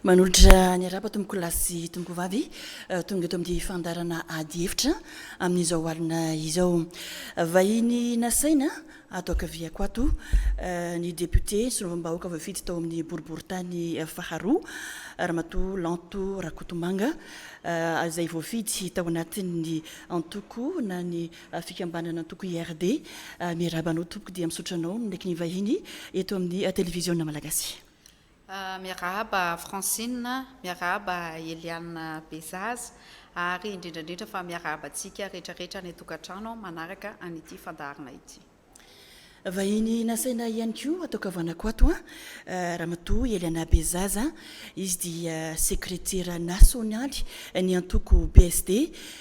Manolotra ny araba tompoko lahy sy tompoko vavy eh, tonga eto amin'ny fandarana ady hevitra amin'izao alina izao. Vahiny nasaina Ato ankaviako ato, ny depiote solombavambahoaka voafidy tao amin'ny boriborintany faharoa, Ramatoa Lanto Rakotomanga, izay voafidy tao anatin'ny antoko na ny fikambanana antoko IRD. Miarahaba anao tompoko dia misaotra anao ny naiky nivahiny eto amin'ny televiziona malagasy. Miarahaba Francine, miarahaba Eliane Bezaza ary indrindra indrindra fa miarahaba antsika rehetra rehetra any an-tokantrano manaraka an' ity fandaharana ity. Vahiny nasaina ihany koa hatao kavanako ato an, Ramatoa Eliana Bezaza, izy dia sekretera nasionaly ny antoko PSD,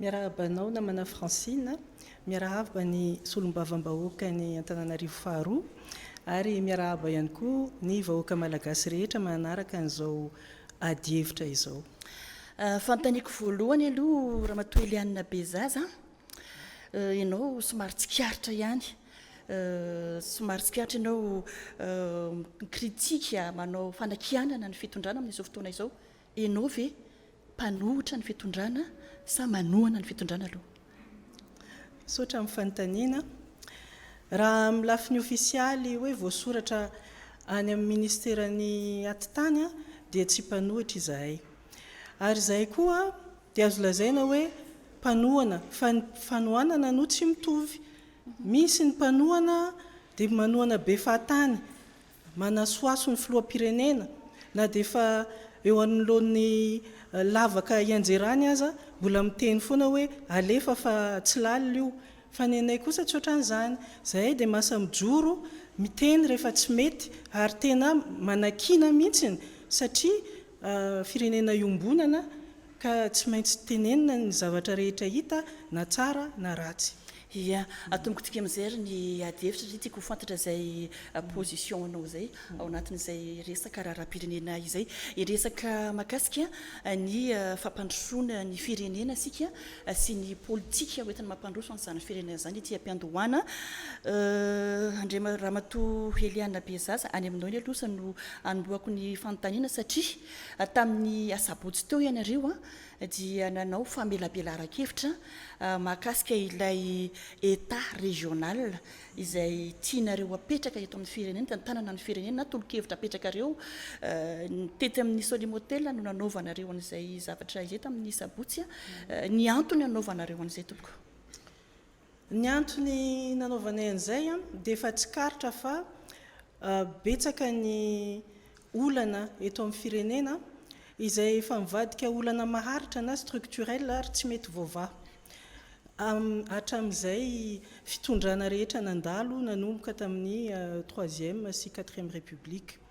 Miarahaba anao namana Francine, miarahaba ny solombavambahoaka ny Antananarivo faharoa ary miarahaba ihany koa ny vahoaka malagasy rehetra manaraka an'izao ady hevitra izao. Fanontaniako voalohany aloha Ramatoa Eliane Bezaza, ianao somary tsikaritra ihany, somary tsikaritra ianao mi-critique, manao fanakianana ny fitondrana amin'izao fotoana izao, Enao ve mpanohitra ny fitondrana sa manohana ny fitondrana aloha? Misaotra amin'ny fanontaniana. Raha amin'ny lafiny ofisialy hoe voasoratra any amin'ny ministeran'ny atitany dia tsy mpanohitra izahay. Ary izahay koa dia azo lazaina hoe mpanohana fa ny fanohanana no tsy mitovy. Misy ny mpanohana dia manohana be fahatany Manasohaso ny filoham-pirenena na dia efa eo anoloan'ny lavaka hianjerany aza, mbola miteny foana hoe alefa fa tsy lalina io. Fa ny anay kosa tsy ohatran'izany. Izahay dia masa mijoro, miteny rehefa tsy mety ary tena manakiana mihitsy satria firenena iombonana ka tsy maintsy tenenina ny zavatra rehetra hita na tsara na ratsy. Ia, atomiko tika mijery ny ady hevitra satria tiako ho fantatra izay position anao izay ao anatin'izay resaka raharaham-pirenena izay. Hiresaka mahakasika ny fampandrosoana ny firenena isika sy ny politika ho entina mampandroso an'izany firenena izany ity am-piandohana. Andriama- Ramatoa Heliana Bezaza, any aminao iny aloha no hanombohako ny fanontaniana satria tamin'ny asabotsy teo ianareo dia nanao famelabelaran-kevitra mahakasika ilay Etat régional izay tianareo hapetraka eto amin'ny firenena, eto an-tanana ny firenena na tolo-kevitra apetrakareo. Tety amin'ny Solim Hotel no nanaovanareo an'izay zavatra izay tamin'ny sabotsy. Ny antony nanaovanareo an'izay tompoko? Ny antony nanaovanay an'izay dia efa tsikaritra fa betsaka ny olana eto amin'ny firenena izay efa mivadika olana maharitra na structurel ary tsy mety voavaha hatramin'izay fitondrana rehetra nandalo nanomboka tamin'ny troisième sy quatrième république.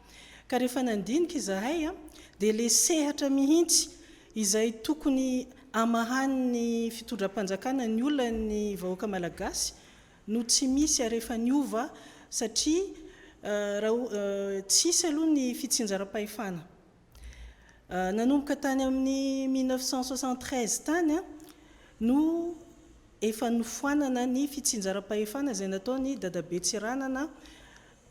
Ka rehefa nandinika izahay dia ilay sehatra mihitsy izay tokony hamahan'ny fitondram-panjakana ny olan'ny vahoaka malagasy no tsy misy ary efa niova satria tsy hisy aloha ny fitsinjaram-pahefana nanomboka tany amin'ny mille neuf cent soixante-treize tany no efa nofoanana ny fitsinjaram-pahefana izay nataon'i Dadabe Tsiranana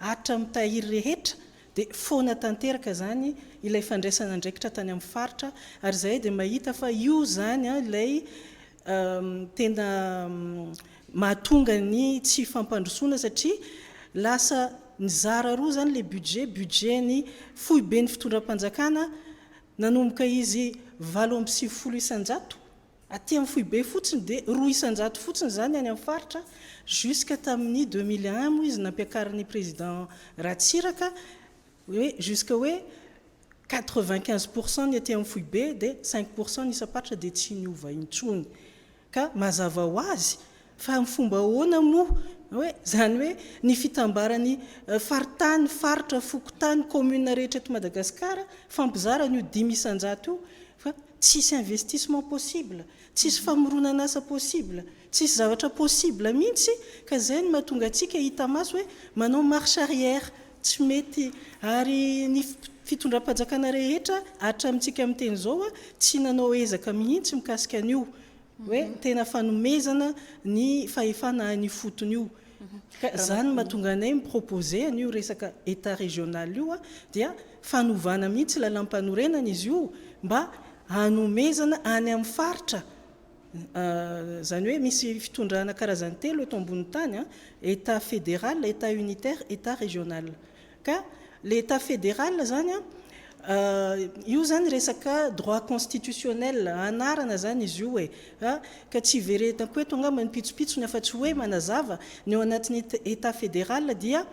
Atra mitahiry rehetra dia foana tanteraka izany ilay fandraisana andraikitra tany amin'ny faritra ary izahay dia mahita fa io izany ilay tena mahatonga ny tsy fampandrosoana satria lasa nizara roa izany ilay budget, budget ny foiben'ny fitondram-panjakana nanomboka izy valo amby sivifolo isan-jato, Aty amin'ny foibe fotsiny dia roa isan-jato fotsiny izany any amin'ny faritra, jusqu'à tamin'ny deux mille et un moa izy nampiakarin'ny président Ratsiraka hoe jusqu'à hoe quatre vingt quinze pour cent ny aty amin'ny foibe dia cinq pour cent ny isam-paritra dia tsy niova intsony ka mazava ho azy fa amin'ny fomba ahoana moa hoe izany hoe ny fitambaran'ny faritany, faritra, fokontany, commune rehetra eto Madagasikara fampizarana io dimy isan-jato io fa Tsisy investissement possible, tsisy famoronan'asa possible, tsisy zavatra possible mihitsy ka zay no mahatonga antsika hita maso hoe manao marche arrière, tsy mety. Ary ny fitondram-panjakana rehetra hatramintsika miteny izao tsy nanao ezaka mihitsy mikasika an'io. hoe tena fanomezana ny fahefana any ifotony io ka zany no mahatonga anay mi proposer an'io resaka Etat régional io dia fanovana mihitsy lalampanorenana izy io mba hanomezana any amin'ny faritra zany hoe misy fitondrana karazany telo eto ambonin'ny tany Etat fédéral, Etat unitaire, Etat régional Ka le etat federal zany an, io zany resaka droit constitutionnel anarana zany izy io e, a ka tsy iveretako eto angamba ny pitsopitsony afa tsy hoe manazava, ny ao anatin'ny etat federal dia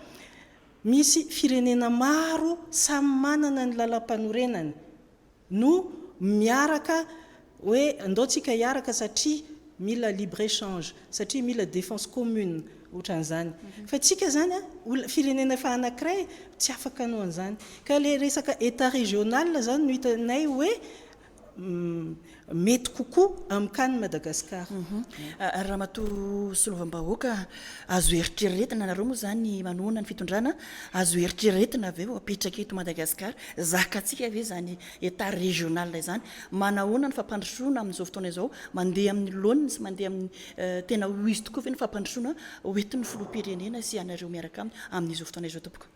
misy firenena maro samy manana ny lalampanorenany, no miaraka hoe ndao tsika hiaraka satria mila libre échange, satria mila défense commune otran'izany. Fa tsika zany a, olona, firenena efa anakiray tsy afaka anao an'izany. Ka le resaka Etat régional zany no hitanay hoe mety kokoa amin'ny cas-n'i Madagascar. Ary Ramatoa Solovam-bahoaka, azo eritreretina, nareo moa zany manohana ny fitondrana, Azo eritreretina ve ho apetraka eto Madagasikara? Zakantsika ve izany Etat régional izany? Manahoana ny fampandrosoana amin'izao fotoana izao? Mandeha amin'ny laoniny sy mandeha amin'ny tena ho izy tokoa ve ny fampandrosoana hoentin'ny Filoham-pirenena sy ianareo miaraka aminy amin'izao fotoana izao tompoko?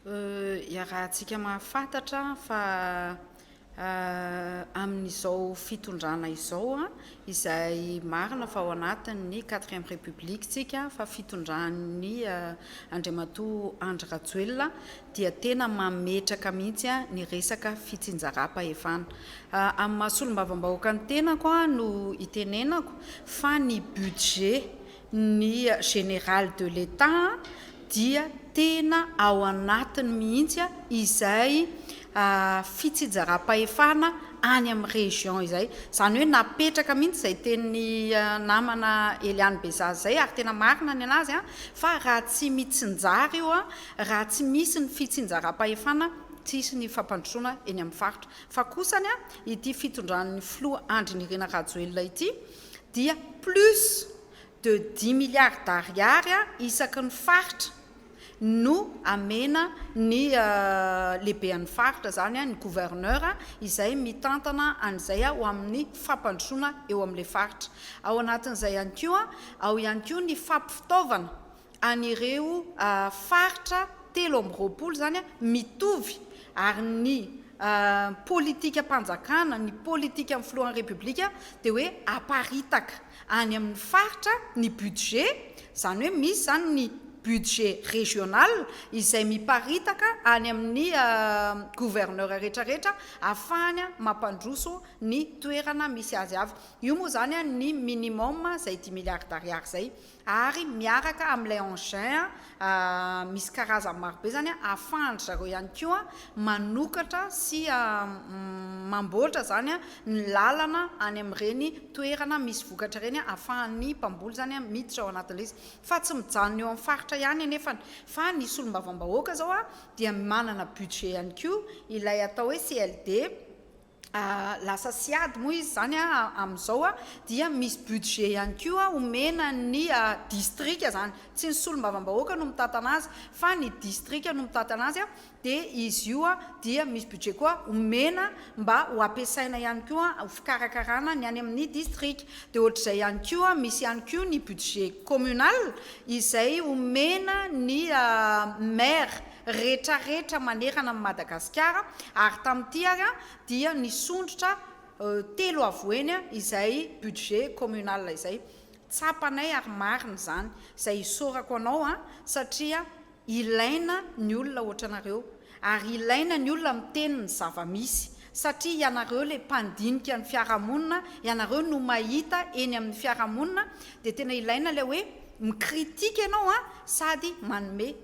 Iarahantsika mahafantatra fa amin'izao fitondrana izao izay marina fa ao anatin'ny quatrième république tsika fa fitondran'ny Andriamatoa Andry Rajoelina dia tena mametraka mihitsy ny resaka fitsinjaram-pahefana. Amin'ny maha solombavambahoaka ny tenako no itenenako fa ny budget ny Général de l'Etat dia tena ao anatiny mihitsy izay fitsinjaram-pahefana any amin'ny région izay. Izany hoe napetraka mihitsy izay tenin'ny namana Eliane Bezaza izay ary tena marina ny an'azy fa raha tsy mitsinjara io, raha tsy misy ny fitsinjaram-pahefana tsy hisy ny fampandrosoana eny amin'ny faritra. Fa kosany ity fitondran'ny filoha Andry Nirina Rajoelina ity, dia plus de dix milliards d'ariary isaky ny faritra no amena ny lehibean'ny faritra, izany ny gouverneur izay mitantana an'izay ho amin'ny fampandrosoana eo amin'ilay faritra. Ao anatin'izay ihany koa, ao ihany koa ny fampifitaovana an'ireo faritra telo amby roapolo izany mitovy ary ny politikam-panjakana, ny politikan'ny filohan'ny Repoblika dia hoe aparitaka any amin'ny faritra ny budget, izany hoe misy izany ny budget régional izay miparitaka any amin'ny gouverneur rehetrarehetra ahafahany mampandroso ny toerana misy azy avy. Io moa izany ny minimum izay dimy milliards d'ariary izay. ary miaraka amin'ilay engin misy karazany marobe izany ahafahan-dry zareo ihany koa manokatra sy mamboatra izany ny lalana any amin'ireny toerana misy vokatra ireny ahafahan'ny mpamboly izany miditra ao anatin'ilay izy fa tsy mijanona eo amin'ny faritra ihany anefa fa ny solombavambahoaka izao dia manana budget ihany koa ilay atao hoe CLD lasa sy ady moa izy izany a, amin'izao a, dia misy budget ihany koa omena ny distrika izany, tsy ny solombavambahoaka no mitantana azy fa ny distrika no mitantana azy a, dia izy io a dia misy budget koa omena mba ho ampiasaina ihany koa ho fikarakarana ny any amin'ny distrika, dia ohatr'izay ihany koa misy ihany koa ny budget communal izay omena ny maire. retraretra manerana an'i Madagasikara ary tamin'ity ary dia nisondrotra telo avoheny izay budget communal izay. Tsapanay ary marina izany izay isaorako anao satria ilaina ny olona ohatranareo ary ilaina ny olona miteny ny zava-misy satria ianareo ilay mpandinika ny fiarahamonina, ianareo no mahita eny amin'ny fiarahamonina dia tena ilaina ilay hoe mi-critique ianao sady manome.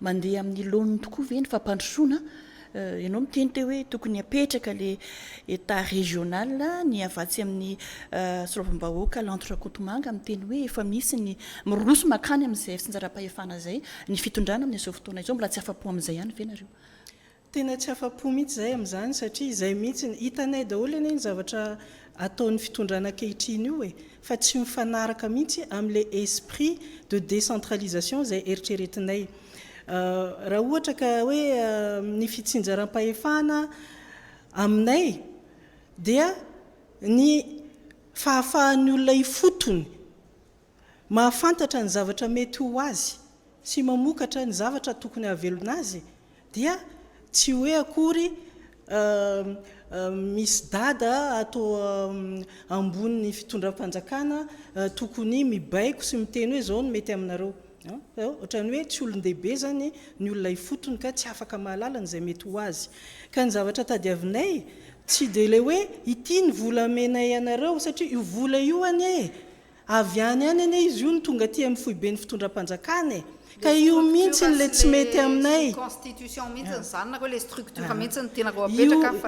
Mandeha amin'ny laoniny tokoa ve ny fampandrosoana? Ianao miteny teo hoe tokony hapetraka ilay Etat régional, ny avy atsy amin'ny solavam-bahoaka Lanto Rakotomanga miteny hoe efa misy ny miroso mankany amin'izay fitsinjaram-pahefana izay ny fitondrana amin'izao fotoana izao, mbola tsy afa-po amin'izay ihany ve nareo? Tena tsy afa-po mihitsy izahay amin'izany satria izay mihitsy ny, hitanay daholo anie ny zavatra ataon'ny fitondrana ankehitriny io e, fa tsy mifanaraka mihitsy amin'ilay esprit de décentralisation izay eritreretinay. Raha ohatra ka hoe ny fitsinjaram-pahefana aminay dia ny fahafahan'ny olona ifotony, mahafantatra ny zavatra mety ho azy sy mamokatra ny zavatra tokony hahavelona azy dia tsy hoe akory misy dada ato ambonin'ny fitondram-panjakana tokony mibaiko sy miteny hoe izao no mety aminareo. Ohatran'ny hoe tsy olon-dehibe izany ny olona ifotony ka tsy afaka mahalala an'izay mety ho azy. Ka ny zavatra tadiavinay tsy dia ilay hoe ity ny volamenay anareo satria io vola io anie Avy any any anie izy io no tonga aty amin'ny foiben'ny fitondram-panjakana e! Ka io mintsy ilay tsy mety aminay a!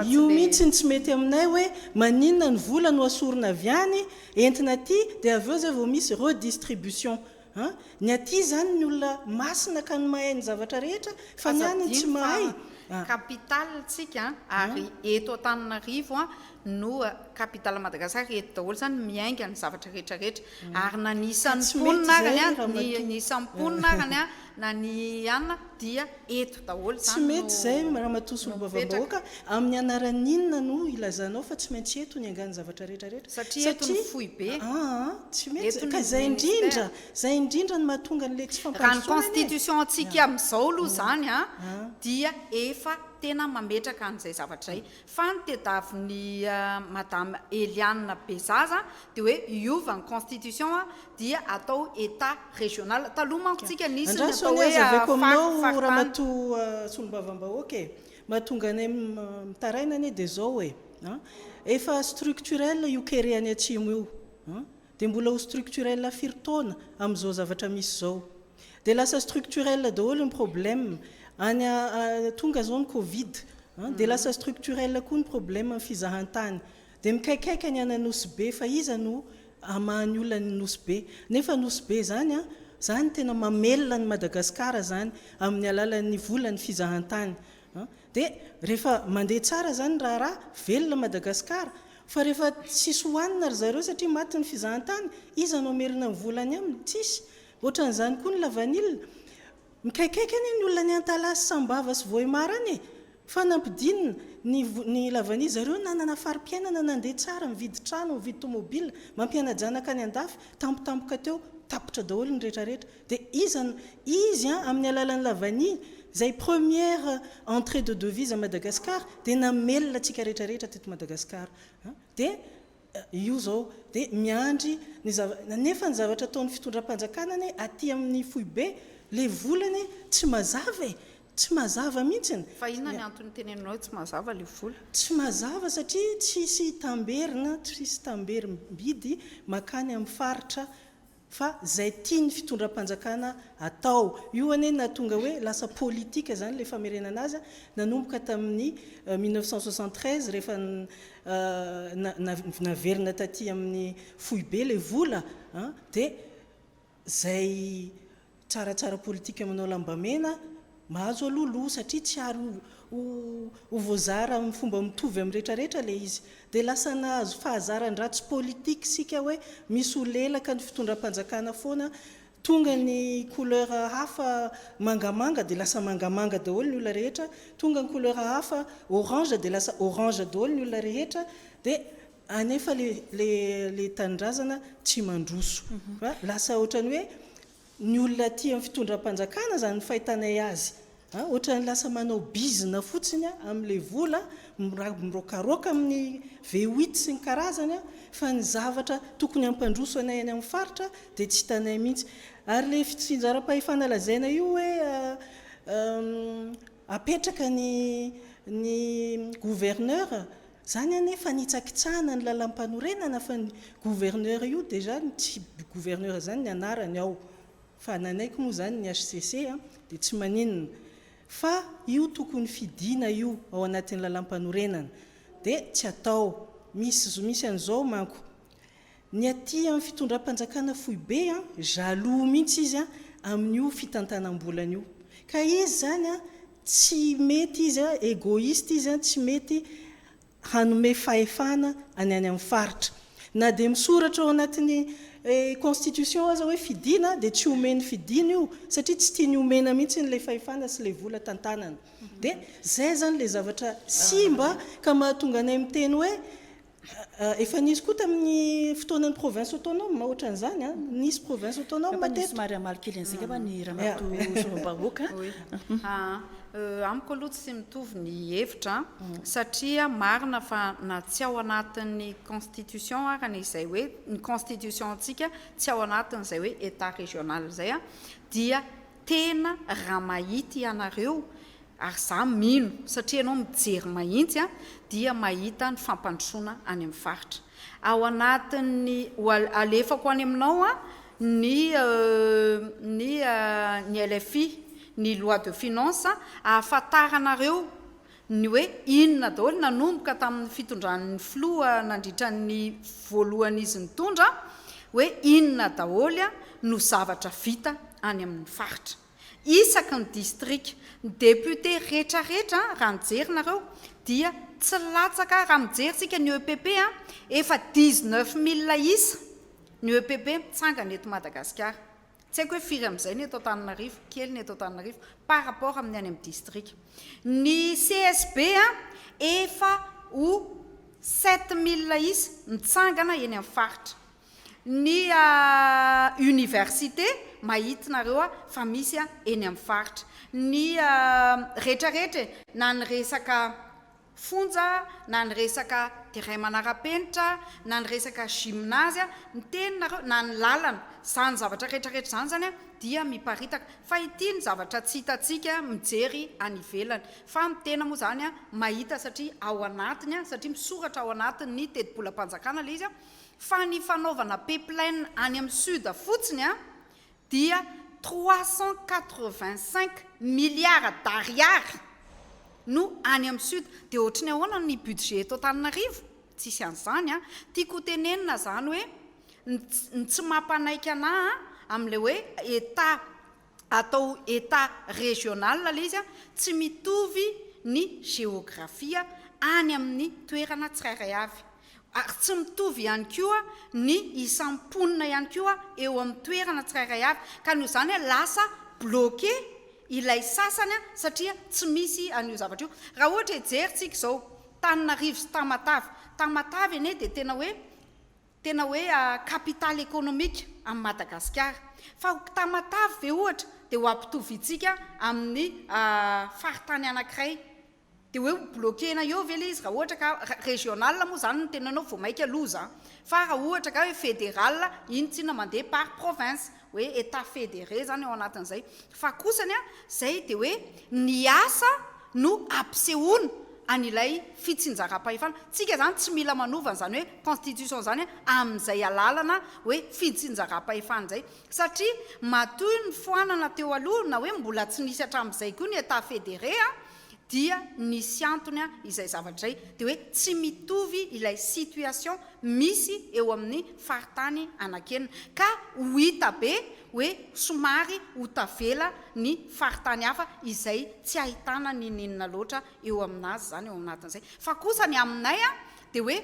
Io mintsy no tsy mety aminay hoe maninona ny vola no asorina avy any entina aty dia avy eo zay vao misy redistribution an! Ny aty zany ny olona masina ka no mahay ny zavatra rehetra fa ny any tsy mahay! Aza adino fa capital tsika ary eto Antananarivo no capital Madagascar eto daholo zany miainga ny zavatra rehetra rehetra ary na ny isan'ny mponina ary ny ny isan'ny mponina ary ny na ny anona dia eto daholo zany tsy mety zay ramatoa solombavambahoaka amin'ny anaran'ny inona no ilazanao fa tsy maintsy eto ny angano zavatra rehetra rehetra satria eto ny foibe aa tsy mety ka zay indrindra zay indrindra ny mahatonga an'le tsy fampandrosoana ny constitution antsika amin'izao aloha zany an dia efa tena mametraka an'izay zavatra zay Fa ny tedaviny madame Eliane Bezaza dia hoe hiova ny constitution dia atao etat regional. Taloha manko tsika nisy ny atao hoe fac, fac tany. Ramatoa solombavambahoaka e! Mahatonga anay mitaraina anie dia izao e! Efa structurel io kere any atsimo io. Dia mbola ho structurel firy taona amin'izao zavatra misy izao? Dia lasa structurel daholo ny problème any tonga izao ny covid an, dia lasa structurel koa ny problème ny fizahantany. Dia mikaikaika ny any Anosy Be fa iza no hamaha ny olona any Nosy Be? Nefa Anosy Be izany an, izany tena mamelona an'i Madagasikara izany amin'ny alalan'ny volan'ny fizahantany. Dia rehefa mandeha tsara zany ny raharaha, velona Madagascar, fa rehefa tsisy hohanina ry zareo satria maty ny fizahantany, iza no hamerina ny vola any aminy? Tsisy. Ohatran'izany koa ny lavanila. Mikaikaika anie ny olona any Antalaha sy Sambava sy Vohemar any e! Fa nampidinina ny ny lavanila. Zareo nanana fari-piainana nandeha tsara, nividy trano, nividy tomobila, mampiana-janaka any an-dafy, tampotampoka teo, tapitra daholo ny rehetrarehetra. Dia iza no izy an amin'ny alalan'i la vanille izay première entrée de devise à Madagascar dia namelona antsika rehetra rehetra teto Madagascar an dia io izao dia miandry ny zava nefa ny zavatra ataon'ny fitondram-panjakana anie aty amin'ny foibe ilay vola anie tsy mazava e! tsy mazava mihintsy ny Fa inona ny antony iteneninao hoe tsy mazava ilay vola? Tsy mazava satria tsisy tamberina, tsisy tamberim-bidy makany amin'ny faritra fa zay tiany fitondram-panjakana atao io anie nahatonga hoe lasa politika zany le famerenana azy nanomboka tamin'ny mille neuf cent soixante treize rehefa naverina taty amin'ny foibe le vola an dia zay Tsara tsara politika manao lambamena, mahazo aloha loha satria tsy ary ho ho voazara amin'ny fomba mitovy amin'ny rehetra rehetra ilay izy. Dia lasa nahazo fahazaran-dratsy politique isika hoe misy ho lelaka ny fitondram-panjakana foana, tonga ny couleur hafa mangamanga dia lasa mangamanga daholo ny olona rehetra, tonga ny couleur hafa orange dia lasa orange daholo ny olona rehetra, dia Anefa le le le tanindrazana tsy mandroso a! Lasa otrany hoe ny olona aty am fitondram-panjakana zany ny fahitanay azy a! Otrany lasa manao bizina fotsiny a! Amle vola mira mirokaroka aminy V8 sy ny karazany a! Fa ny zavatra tokony hampandroso anay any am faritra de tsy hitanay mihitsy! Ary le fitsinjaram-pahefana lazaina io hoe a! Apetraka ny ny gouverneur, zany anie fanitsakitsahana ny lalampanorenana fa ny gouverneur io déjà ny tsy gouverneur zany ny anarany ao fa nanaiky moa zany ny HCC a dia tsy maninona fa io tokony fidina io ao anatin'ny lalampanorenana dia tsy atao, misy misy an'izao manko Ny aty amin'ny fitondram-panjakana foibe, jaloux mihitsy izy amin'io fitantanam-bolany io. Ka izy izany tsy mety izy, egoiste izy, tsy mety hanome fahefana any any amin'ny faritra. Na dia misoratra ao anatin'ny constitution aza hoe fidiana dia tsy omen'ny fidiana io satria tsy tiany omena mihitsy ilay fahefana sy ilay vola tantanany. Dia izay izany ilay zavatra simba ka mahatonga anay miteny hoe, Efa nisy koa tamin'ny fotoanan'ny province autonome ohatran'izany an, nisy province autonome teto. Angamba somary hamaly kely an'izay angamba ny ramatoa solombavahoaka an. Amiko aloha tsy mitovy ny hevitra an, satria marina fa na tsy ao anatin'ny constitution ara ny izay hoe ny constitution antsika tsy ao anatin'izay hoe Etat régional izay an, dia tena raha mahita ianareo, ary za mino satria ianao mijery mahintsy a, dia mahita ny fampandrosoana any amin'ny faritra. Ao anatin'ny ho alefako any aminao a, ny ny ny LFI, ny loi de finances, ahafantaranareo ny hoe inona daholo nanomboka tamin'ny fitondran'ny filoha nandritra ny voalohany izy nitondra, hoe inona daholo no zavatra vita any amin'ny faritra. Isaky ny distrika, ny députés retraretra raha nijery nareo dia tsy latsaka raha mijery isika ny EPP a, efa dix-neuf mille isa ny EPP mitsangana eto Madagasikara. Tsy haiko hoe firy amin'izay ny eto Antananarivo, kely ny eto Antananarivo par rapport amin'ny any amin'ny distrika. Ny CSB efa ho sept mille isa mitsangana eny amin'ny faritra. Ny université mahitinareo fa misy eny amin'ny faritra. Ny rehetrarehetra e, na ny resaka fonja na ny resaka terrain manara-penitra na ny resaka gymnase ny teny nareo na ny lalana zany zavatra retraretra zany zany dia miparitaka fa ity ny zavatra tsy hitantsika mijery any ivelany fa ny tena moa zany mahita satria ao anatiny satria misoratra ao anatin ny tetibolam-panjakana le izy fa ny fanaovana pipeline any amin'ny sud fotsiny dia trois cent quatre-vingt-cinq milliards d'ariary no any amin'ny sud, dia ohatry ny ahoana ny budget eto Antananarivo? Tsisy an'izany an! Tiako ho tenenina izany hoe ny tsy mampanaiky anà amin'ilay hoe Etat atao Etat régional ilay izy an, tsy mitovy ny géographie any amin'ny toerana tsirairay avy. ary tsy mitovy ihany koa ny isan'ny mponina ihany koa eo amin'ny toerana tsirairay avy ka noho izany lasa bloqué ilay sasany satria tsy misy an'io zavatra io. Raha ohatra hejerintsika izao Tananarivo sy Tamatave, Tamatave anie dia tena hoe tena hoe capital économique an'i Madagasikara fa Tamatave ve ohatra dia ho ampitovintsika amin'ny faritany anankiray Dia hoe ho bloquer-na eo ve ilay izy raha ohatra ka, régional moa izany no teninao vao maika loza an! Fa raha ohatra angaha hoe fédéral, iny tsinona mandeha par province, hoe Etats fédérés izany ao anatin'izay. Fa kosa ny an, izay dia hoe ny asa no ampisehoana an'ilay fitsinjaram-pahefana. Tsika izany tsy mila manova an'izany hoe constitution izany an, amin'izay alalana hoe fitsinjaram-pahefana izay. satria matoy ny foanana teo aloha na hoe mbola tsy nisy hatramin'izay koa ny Etat federé a, dia nisy antony izay zavatra izay, dia hoe tsy mitovy ilay situation misy eo amin'ny faritany anankenina, ka ho hita be hoe somary ho tavela ny faritany hafa izay tsy ahitana n'inon'inona loatra eo amin'azy izany ao anatin'izay, fa kosa ny aminay a, dia hoe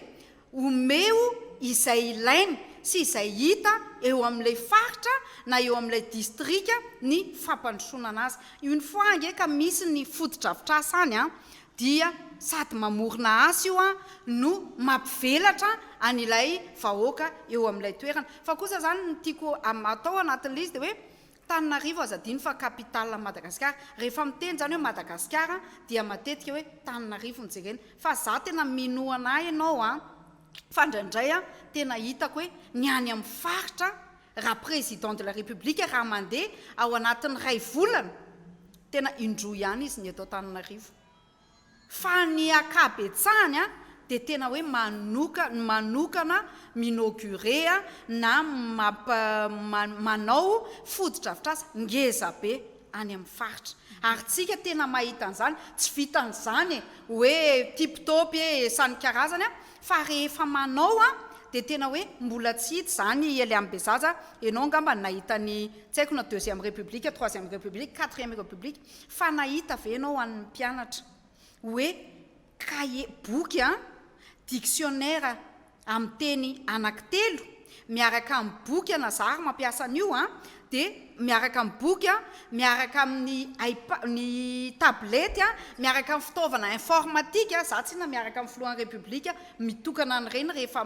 Omeo izay ilainy sy izay hita eo amin'ilay faritra na eo amin'ilay distrika ny fampandrosoana anazy. Une fois ange ka misy ny fotodrafitrasa any an, dia sady mamorona asa io an, no mampivelatra an'ilay vahoaka eo amin'ilay toerana. Fa kosa izany ny tiako atao anatin'ilay izy dia hoe, Tananarivo aza adino fa capitale an'i Madagasikara. Rehefa miteny izany hoe Madagasikara dia matetika hoe Tananarivo no jerena. Fa za tena minoana ahy ianao an! Fa indraindray an, tena hitako hoe ny any amin'ny faritra raha président de la république raha mandeha ao anatin'ny iray volana tena indroa ihany izy ny eto Antananarivo. Fa ny akabetsahany an dia tena hoe manoka manokana m'inaugurer a na mamp ma manao fotodrafitrasa ngeza be any amin'ny faritra. Ary tsika tena mahita an'izany, tsy vitan'izany e hoe tip top e sany karazany a fa rehefa manao a dia tena hoe mbola tsy hita izany i Eliam Bezaza, ianao angamba nahita ny tsy haiko na deuxième république, troisième république, quatrième république, Fa nahita ve ianao an'ny mpianatra hoe kahie, boky an, dictionnaire amin'ny teny anankitelo miaraka amin'ny boky an, na zary mampiasa an'io an, dia miaraka amin'ny boky an, miaraka amin'ny ipa, ny tablety an, miaraka amin'ny fitaovana informatika, za tsinona miaraka amin'ny filohan'ny repoblika mitokana an'ireny rehefa,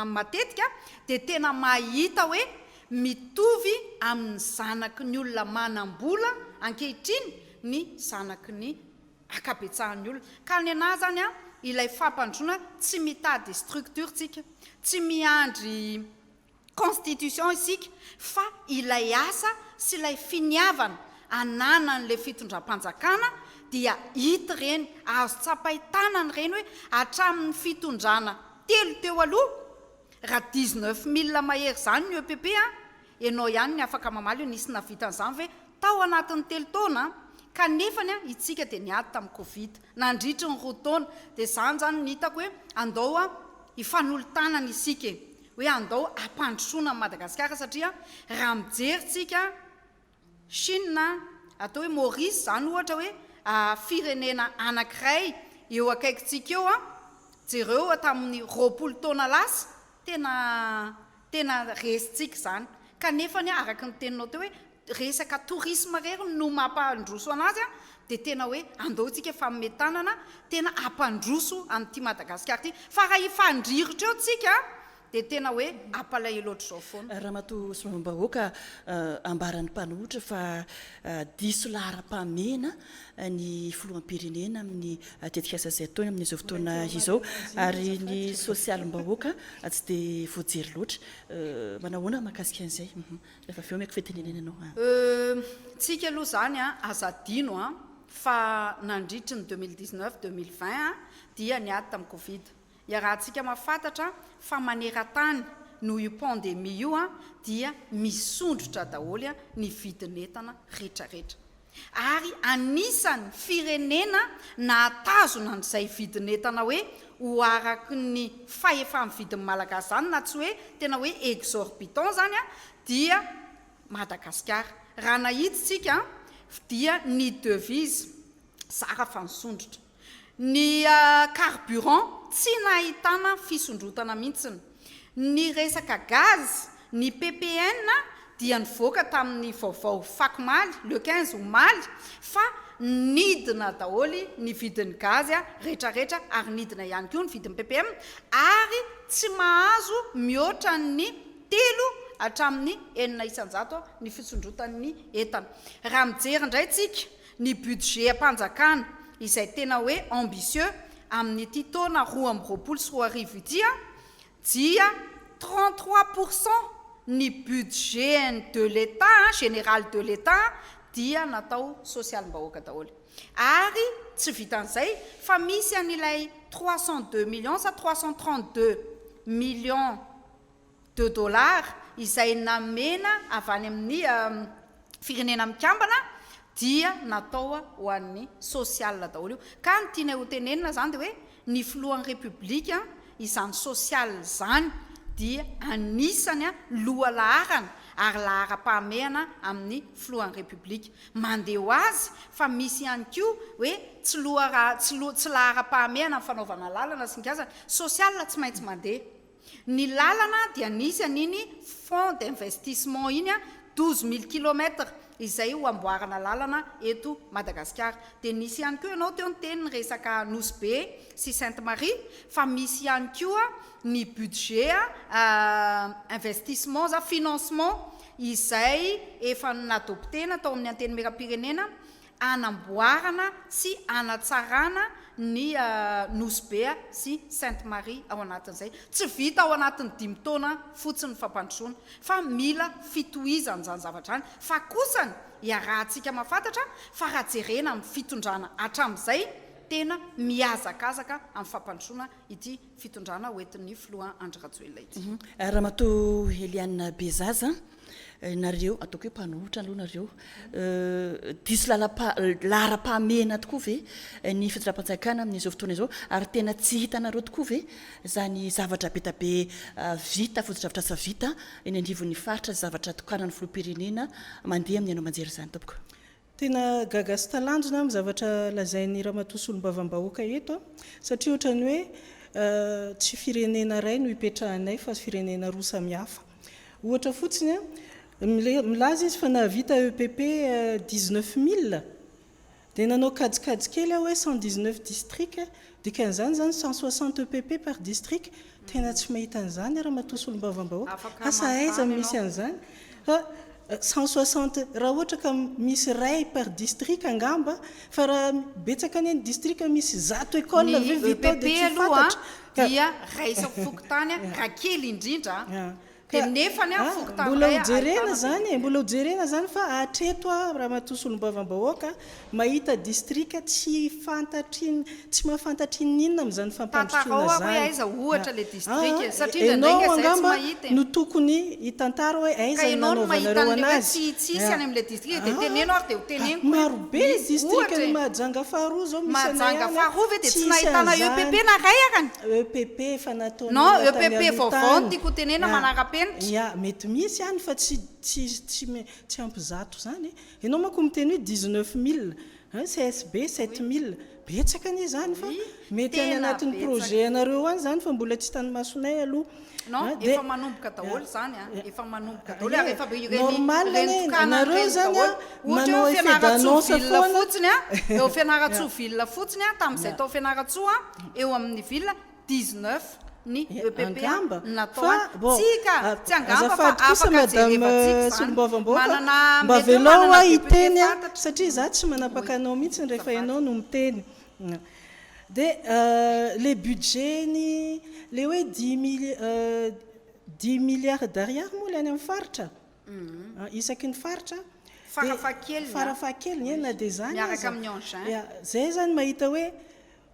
matetika, dia tena mahita hoe Mitovy amin' ny zanaky ny olona manam-bola ankehitriny ny zanaky ny ankabetsahan' ny olona. Ka ny anah zany an, ilay fampandrosoana tsy mitady structure tsika, tsy miandry constitution isika fa ilay asa sy ilay finiavana ananan' ilay fitondram-panjakana dia hita ireny, azo tsapain-tanana ireny hoe hatramin' ny fitondrana telo teo aloha, Raha dix neuf mille mahery izany ny EPP an, ianao ihany ny afaka mamaly hoe nisy nahavita an'izany ve tao anatin'ny telo taona an? Kanefany an, itsika dia niady tamin'ny covid nandritry ny roa taona, dia izany izany no hitako hoe andao an, hifanolo-tanana isika e! hoe andao hampandrosoana an'i Madagasikara satria raha mijery tsika an, Chine, atao hoe Maurice izany ohatra hoe firenena anankiray eo akaikintsika eo an, jereo tamin'ny roapolo taona lasa tena tena resintsika izany kanefa anie araka ny teninao teo hoe resaka tourisme irery no mampandroso an'azy an, dia tena hoe andao isika fanomey tanana tena hampandroso an'ity Madagasikara ity fa raha hifandrirotra eo tsika dia tena hoe apalaie loatra izao foana. Ramatoa Solombavambahoaka, ambaran'ny mpanohitra fa diso laharam-pahamehana ny filoham-pirenena amin'ny tetikasa izay ataony amin'izao fotoana izao ary ny sosialim-bahoaka tsy dia voajery loatra. Manao ahoana ny mahakasika an'izay? Rehefa avy eo omeko fitenenana ianao. Tsika aloha izany aza adino fa nandritry ny deux mille dix-neuf, deux mille vingt dia niady tamin'ny covid. Iarahantsika mahafantatra fa maneran-tany noho io pandemie io dia misondrotra daholo ny vidin'entana retraretra. Ary anisan'ny firenena nahatazona an'izay vidin'entana hoe ho araky ny fahefa-mividin'ny Malagasy izany na tsy hoe tena hoe exorbitant izany dia Madagasikara. Raha nahitsy tsika dia ny devise zara fa nisondrotra. Ny carburant tsy nahitana fisondrotana mihitsiny. Ny resaka gaz, ny ppn dia nivoaka tamin'ny vaovao fakomaly, le quinze omaly, fa nidina daholo ny vidin'ny gaz retraretra ary nidina ihany koa ny vidin'ny ppm ary tsy mahazo mihoatra ny telo hatramin'ny enina isan-jato ny fisondrotan'ny entana. Raha mijery indray tsika Ny budget-mpanjakana izay tena hoe ambitieux amin'ity taona roa amby roapolo sy roa arivo ity dia trente trois pour cent ny budget-ny de l'Etat, général de l'Etat, dia natao sosialim-bahoaka daholo. Ary tsy vitan'izay fa misy an'ilay trois cent deux millions sa trois cent trente deux millions, de dollars izay namena avy any amin'ny Firenena Mikambana dia natao ho an'ny sosialina daholo io. Ka ny tianay ho tenenina izany dia hoe ny Filohan'ny Repoblika izany sosialina izany dia anisany loha laharana ary laharam-pahamehana amin'ny Filohan'ny Repoblika. Mandeha ho azy fa misy ihany koa hoe tsy loha tsy laharam-pahamehana ny fanaovana lalana sy ny gazany. Sosialina tsy maintsy mandeha. Ny lalana dia nisy an'iny fonds d'investissement iny douze mille kilomètres izay ho amboarana lalana eto Madagasikara. Dia nisy ihany koa ianao teo niteny ny resaka Nosy Be sy Sainte Marie fa misy ihany koa ny budget investissements financement izay efa nadoptena tao amin'ny Antenimierampirenena hanamboarana sy hanatsarana ny Nosy Be sy Sainte Marie ao anatin'izay. Tsy vita ao anatin'ny dimy taona fotsiny ny fampandrosoana fa mila fitohizana izany zavatra izany fa kosany iarahantsika mahafantatra fa raha jerena amin'ny fitondrana hatramin'izay tena mihazakazaka amin'ny fampandrosoana ity fitondrana hoentin'ny filoha Andry Rajoelina ity. Ramatoa Eliane Bezaza, nareo ataoko hoe mpanohitra aloha nareo, diso laharam-pahamehana tokoa ve ny fitondram-panjakana amin'izao fotoana izao ary tena tsy hitanareo tokoa ve izany zavatra be dia be vita, fotodrafitrasa vita eny anivon'ny faritra, zavatra tokanan'ny filoham-pirenena mandeha amin'ny haino aman-jery izany tompoko? Tena gaga sy talanjona aho ny zavatra lazain'i Ramatoa Solombavambahoaka eto satria ohatran'ny hoe tsy firenena iray no ipetrahanay fa firenena roa samihafa. Ohatra fotsiny, milaza izy fa nahavita EPP dix neuf mille dia nanao kajikajy kely aho hoe cent dix neuf districts, dikan'izany izany cent soixante EPP par district, Tena tsy mahita an'izany ramatoa solombavambahoaka, asa aiza no misy an'izany fa cent soixante raha ohatra ka misy iray par district angamba fa raha betsaka anie ny district misy zato école ve vita ao dia tsy fantatra ka. Ny EPP aloha dia raisiny fokontany raha kely indrindra. Ka ah, mbola ho jerena zany e, mbola ho jerena zany fa hatreto aho Ramatoa Solombavambahoaka mahita distrika tsy fantatrin, tsy mahafantatra inon'inona amin'izany fampandrosoana zany. Ah, ah, enao angamba no tokony hitantara hoe aiza ny nanaovanareo anazy. Ah, ah, ah, marobe distrikan'i Mahajanga faharoa zao misy anay any an, tsy hisy an'izany. EPP efa nataon'ny Non, olona tany EPP aloha vaovao no tany. tiako hotenena, Ah, manara-penitra. ia, mety misy any fa tsy, tsy, tsy, me, tsy ampy zato izany e. Ianao manko miteny hoe 19 mille, hein, CSB 7 mille. Betsaka anie izany fa Oui, mety any tena anatin'ny betsaka. projet anareo any izany fa mbola tsy tany masonay aloha. Non, ah, efa manomboka daholo eh, zany an, eh, efa manomboka daholo ary efa ireny normal ireny tokana ireny daholo. Ohatra hoe fianaratsoa ville fotsiny an, eo fianaratsoa ville fotsiny an, tamin'izay tao fianaratsoa eo amin'ny ville 19 ny EPP natao tsika ah, tsy angamba fa afaka jerevantsika zany manana mba velao a hiteny an satria za tsy manapaka anao mihitsy rehefa ianao no miteny Dia ilay budget-ny, ilay hoe dix milliards d'ariary moa ilay any amin'ny faritra, isaky ny faritra, farafahakeliny, na dia izany aza, dia izay izany mahita hoe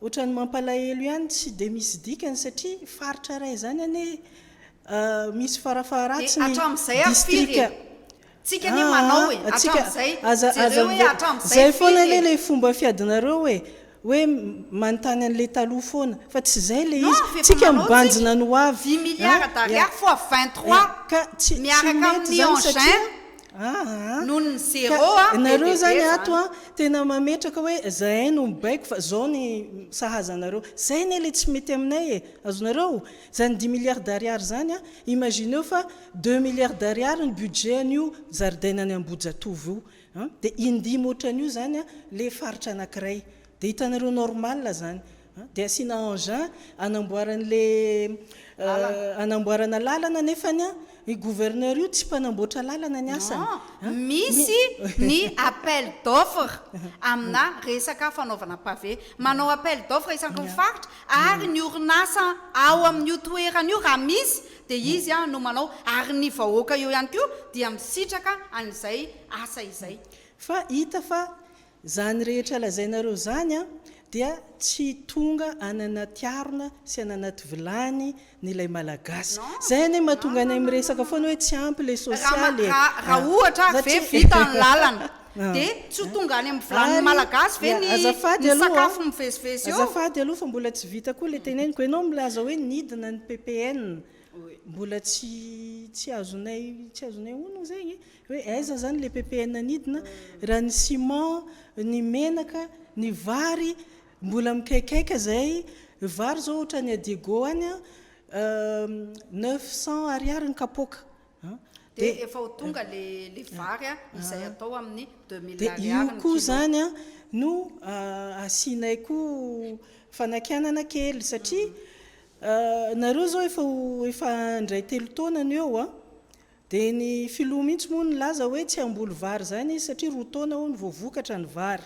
ohatran'ny mampalahelo ihany, tsy dia misy dikany satria faritra iray izany anie misy farafaharatsiny distrika. Tsika anie manao e, hatramzay, jereo hoe hatramzay firy e. Zay foana le le fomba fiadinareo hoe hoe manontany anle taloha foana fa tsy zay le izy, tsika mibanjina ny ho avy, dimy milliards d'ariary fois vingt trois miaraka amin'ny engin noho ny zero a, be dia be zany. Nareo zany ato a tena mametraka hoe zahay no mibaiko fa zao ny sahaza anareo, zay anie le tsy mety aminay e, azonareo? Zany dimy milliards d'ariary zany a, imagineo fa Deux milliards d'ariary ny budget an'io zaridaina any Ambohijatovo io a! Dia indimy ohatran'io izany a, le faritra anankiray. Dia hitanareo normal izany a! Dia asiana engin hanamboarana ilay hanamboarana lalana nefany a, io gouverneur io tsy mpanamboatra lalana ny asany. Non, misy ny appel d'offre amina resaka fanaovana pavé. Manao appel d'offre isaky ny faritra ary ny orinasa ao amin'io toerana io raha misy dia izy no manao ary ny vahoaka eo ihany koa dia misitraka an'izay asa izay. Fa hita fa zany rehetra lazainareo zany dia tsy tonga any anaty harona sy any anaty vilany ny ilay malagasy. Zay anie mahatonga anay miresaka foana hoe tsy ampy le sosialy e. Raha ohatra ve vita ny lalana. Dia tsy ho tonga any amin'ny vilanin'ny Malagasy ve ny sakafo mivezivezy eo? Azafady aloha fa mbola tsy vita koa ilay teneniko. Ianao milaza hoe nidina ny ppn. Mbola tsy azonay tsy azonay onona izay hoe aiza izany ilay ppn nidina. Raha ny ciment, ny menaka, ny vary mbola mikaikaika izay. Ny vary izao ohatran'ny à Diego any, neuf cents ariary ny kapoaka. Dia efa ho tonga ilay vary izay atao amin'ny deux mille ariary ny kilao. Dia io koa izany no asianay koa fanakianana kely satria nareo izao efa ho efa indray telo taona no eo dia ny filoha mihitsy moa nilaza hoe tsy hamboly vary izany izy satria roa taona hono vao vokatra ny vary.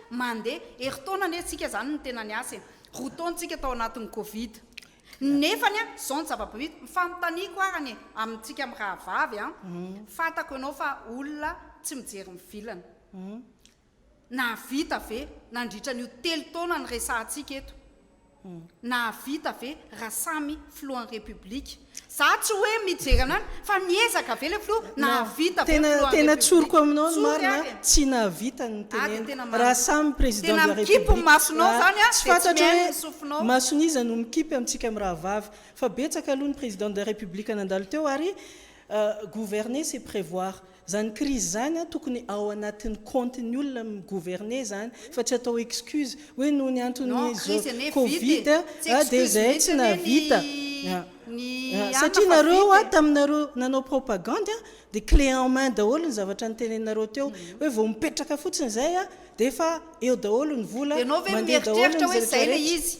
Mandeha. Herintaona anie tsika izany no tena niasa e. Roa taona tsika tao anatin'ny covid. Nefany an, izao ny zava-bit, ny fanontaniako arany e, amintsika mirahavavy an, fantako ianao fa olona tsy mijery ny vilany. Nahavita ve nandritra an'io telo taona niresahantsika eto Nahavita ve raha samy filohan'ny Repoblika? Za tsy hoe mijery anany fa niezaka ve le filoha? Nahavita ve filohan'ny Repoblika? Tena tsoriko aminao ny marina a, tsy nahavita ny niteneniko. Raha samy président de la République a, tsy fantatro hoe mason'iza no mikipy amintsika mirahavavy. Fa betsaka aloha ny président de la République nandalo teo ary gouverner c'est prévoir. Zany crise zany an tokony ao anatiny compte ny olona mi gouverner zany fa tsy atao excuse hoe noho ny antony zo covid a de zay tsy nahavita a a satria nareo a taminareo nanao propagande a de clé en main daholo ny zavatra nitenenareo teo hoe vao mipetraka fotsiny zay a de efa eo daholo ny vola mandeha daholo ny zavatra rehetra.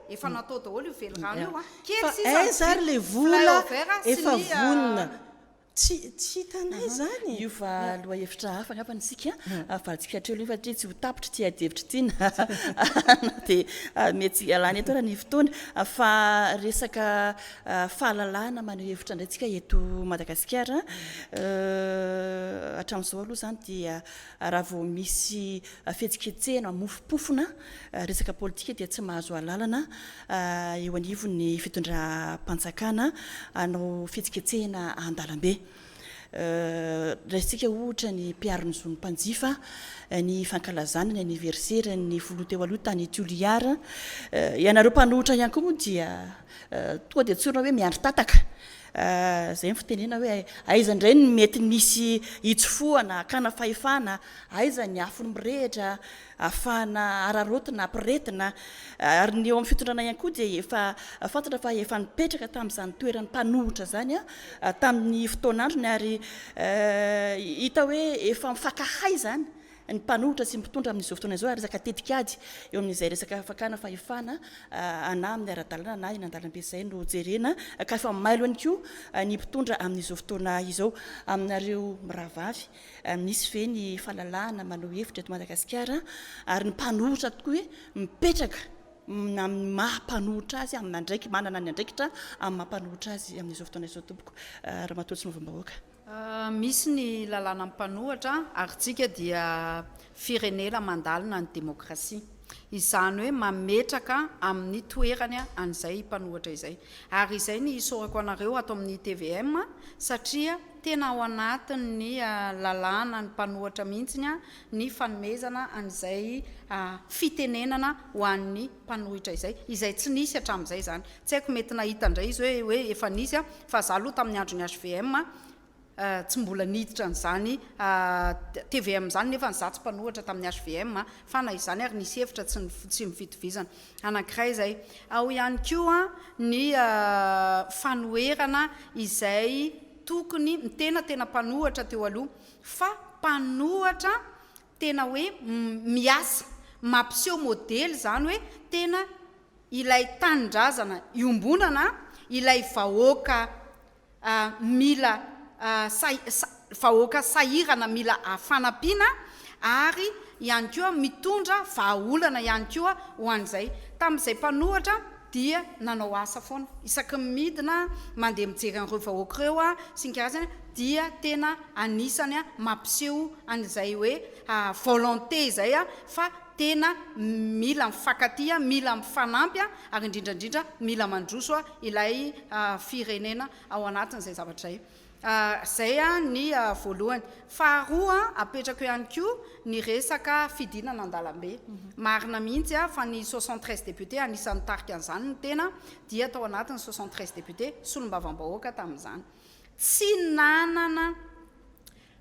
Efa natao daholo io velirano io a. Kely sisa ny vy, flyover sy ny. Tsy hitanay zany e. Io fa lohahevitra hafa angamba ny isika avadintsika hatreo aloha satria tsy ho tapitra ity adihevitra ity na na dia mety ialana eto ary ny fotoana fa resaka fahalalahana maneho hevitra indray isika eto Madagasikara hatramin'izao aloha izany dia Raha vao misy fihetsiketsehana mofopofona resaka politika dia tsy mahazo alalana eo anivon'ny fitondram-panjakana hanao fihetsiketsehana an-dalambe. Raisintsika ohatra ny mpiaro ny zon'ny mpanjifa, ny fankalazana ny anniverseran'ny filoha teo aloha tany Toliara. Ianareo mpanohitra ihany koa moa dia tonga dia tsorina hoe miandry tataka. Izay ny fitenena hoe aiza indray no mety misy hitsofohana, hakana fahefana, aiza ny afo mirehitra ahafahana araraotina, ampirehetina. Ary ny eo amin'ny fitondrana ihany koa dia efa fantatra fa efa nipetraka tamin'izany toerany mpanohitra izany tamin'ny fotoan'androny ary hita hoe efa mifankahay izany ny mpanohitra sy ny mpitondra amin'izao fotoana izao ary resaka tetikady eo amin'izay resaka fakana fahefana anah amin'ny ara-dalàna na eny an-dalambe izay no jerena ka efa mailo ihany koa ny mpitondra amin'izao fotoana izao aminareo mirahavavy misy ve ny falalahana maneho hevitra eto Madagasikara ary ny mpanohitra tokoa hoe mipetraka amin'ny maha mpanohitra azy amin'ny andraiki manana ny andraikitra amin'ny maha mpanohitra azy amin'izao fotoana izao tompoko Ramatoa tsy novambahoaka Misy ny lalàna mpanohatra ary isika dia firenena mandalina ny demokrasia. Izany hoe mametraka amin'ny toerany an'izay mpanohatra izay. Ary izay ny isaorako anareo ato amin'ny tvm satria tena ao anatin'ny lalàna ny mpanohatra mihitsy ny fanomezana an'izay fitenenana ho an'ny mpanohitra izay, izay tsy nisy hatramin'izay izany. Tsy haiko, mety nahita indray izy hoe hoe efa nisy an, fa izaho aloha tamin'ny andron'ny hvm an, tsy mbola niditra an'izany tvm izany, nefa izaho tsy mpanohitra tamin'ny hvm an, fa na izany ary nisy hevitra tsy tsy nifitovizana. Anankiray izay. Ao ihany koa ny fanoherana izay tokony, ny tena tena mpanohitra teo aloha, fa mpanohitra Tena hoe miasa, mampiseho modely izany hoe tena ilay tanindrazana iombonana, ilay vahoaka mila vahoaka sahirana mila fanampiana ary ihany koa mitondra vahaolana ihany koa ho an'izay. Tamin'izay mpanohatra. dia nanao asa foana, isaky ny midina aho mandeha mijery an'ireo vahoaka ireo aho sy ny karazany dia tena anisany mampiseho an'izay hoe volonté izay fa tena mila mifankatia, mila mifanampy ary indrindra indrindra mila mandroso ilay firenena ao anatin'izay zavatra izay. Izay ny voalohany. Faharoa, apetrako ihany koa ny resaka fidinana an-dalambe. Marina mihitsy fa ny soixante treize députés, anisan'ny nitarika an'izany ny tena, dia tao anatin'ny soixante treize députés, solombavambahoaka tamin'izany. Tsy nanana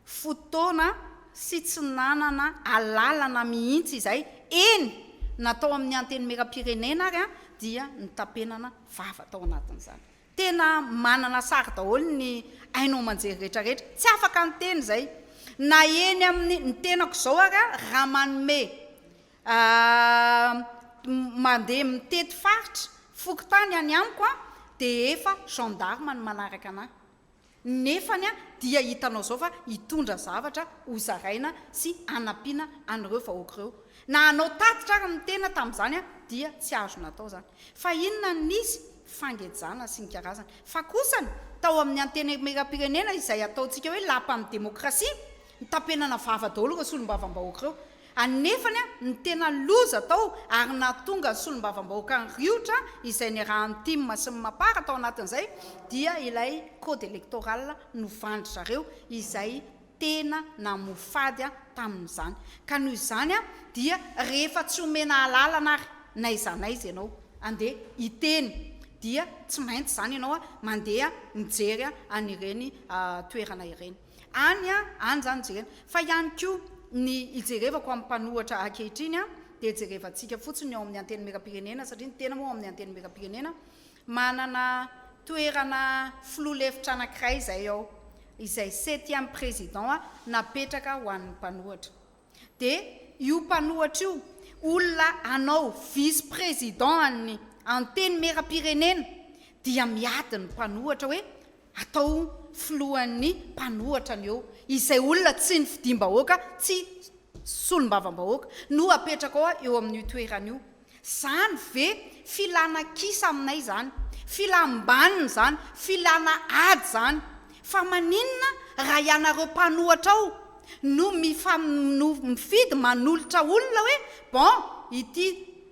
fotoana sy tsy nanana alalana mihitsy izay, eny na tao amin'ny Antenimierampirenena ary dia nitapenana vava tao anatin'izany. Tena manana sary daholo ny haino aman-jery rehetra rehetra. Tsy afaka niteny izay. Na eny amin'ny, ny tenako izao ary an, raha manome mandeha mitety faritra, fokontany any amiko an, dia efa gendarme no manaraka an'ahy. Nefany dia hitanao zao fa hitondra zavatra ho zaraina sy hanampiana an'ireo vahoaka ireo. Na hanao tatitra ary ny tena tamin'izany dia tsy azo natao izany. Fa inona no nisy? Fangejana sy ny karazany. Fa kosany, tao amin'ny Antenimierampirenena izay ataontsika hoe lapan'ny demokrasia, nitapenana vava daholo ireo solombavambahoaka ireo. Anefany, ny tena loza tao ary nahatonga ny solombavambahoakan'ny Riotra izay niarahan'ny Tim sy ny Mapar tao anatin'izay dia ilay code electoral novandry zareo izay tena namoa fady tamin'izany. Ka noho izany dia rehefa tsy omena alalana ary na aiza na aiza ianao andeha hiteny dia tsy maintsy izany ianao mandeha mijery an'ireny toerana ireny. any any zany jerena fa ihany koa ny ijerevako amin'ny mpanohatra ankehitriny a dia jerevantsika fotsiny ny ao amin'ny antenimierampirenena satria ny tena moa ao amin'ny antenimierampirenena manana toerana filoha lefitra anankiray izay ao izay septième président napetraka ho an'ny mpanohatra dia io mpanohatra io olona anao vice président an'ny antenimierampirenena dia miady ny mpanohatra hoe atao filohan'ny mpanohatra ny eo izay olona tsy nifidiam-bahoaka tsy solombavambahoaka no apetraka ao eo amin'io toerana io Zany ve filana kisa aminay zany? Filam-baniny zany, filana ady zany. Fa maninona raha ianareo mpanohatra ao no mifa no mifidy manolotra olona hoe bon ity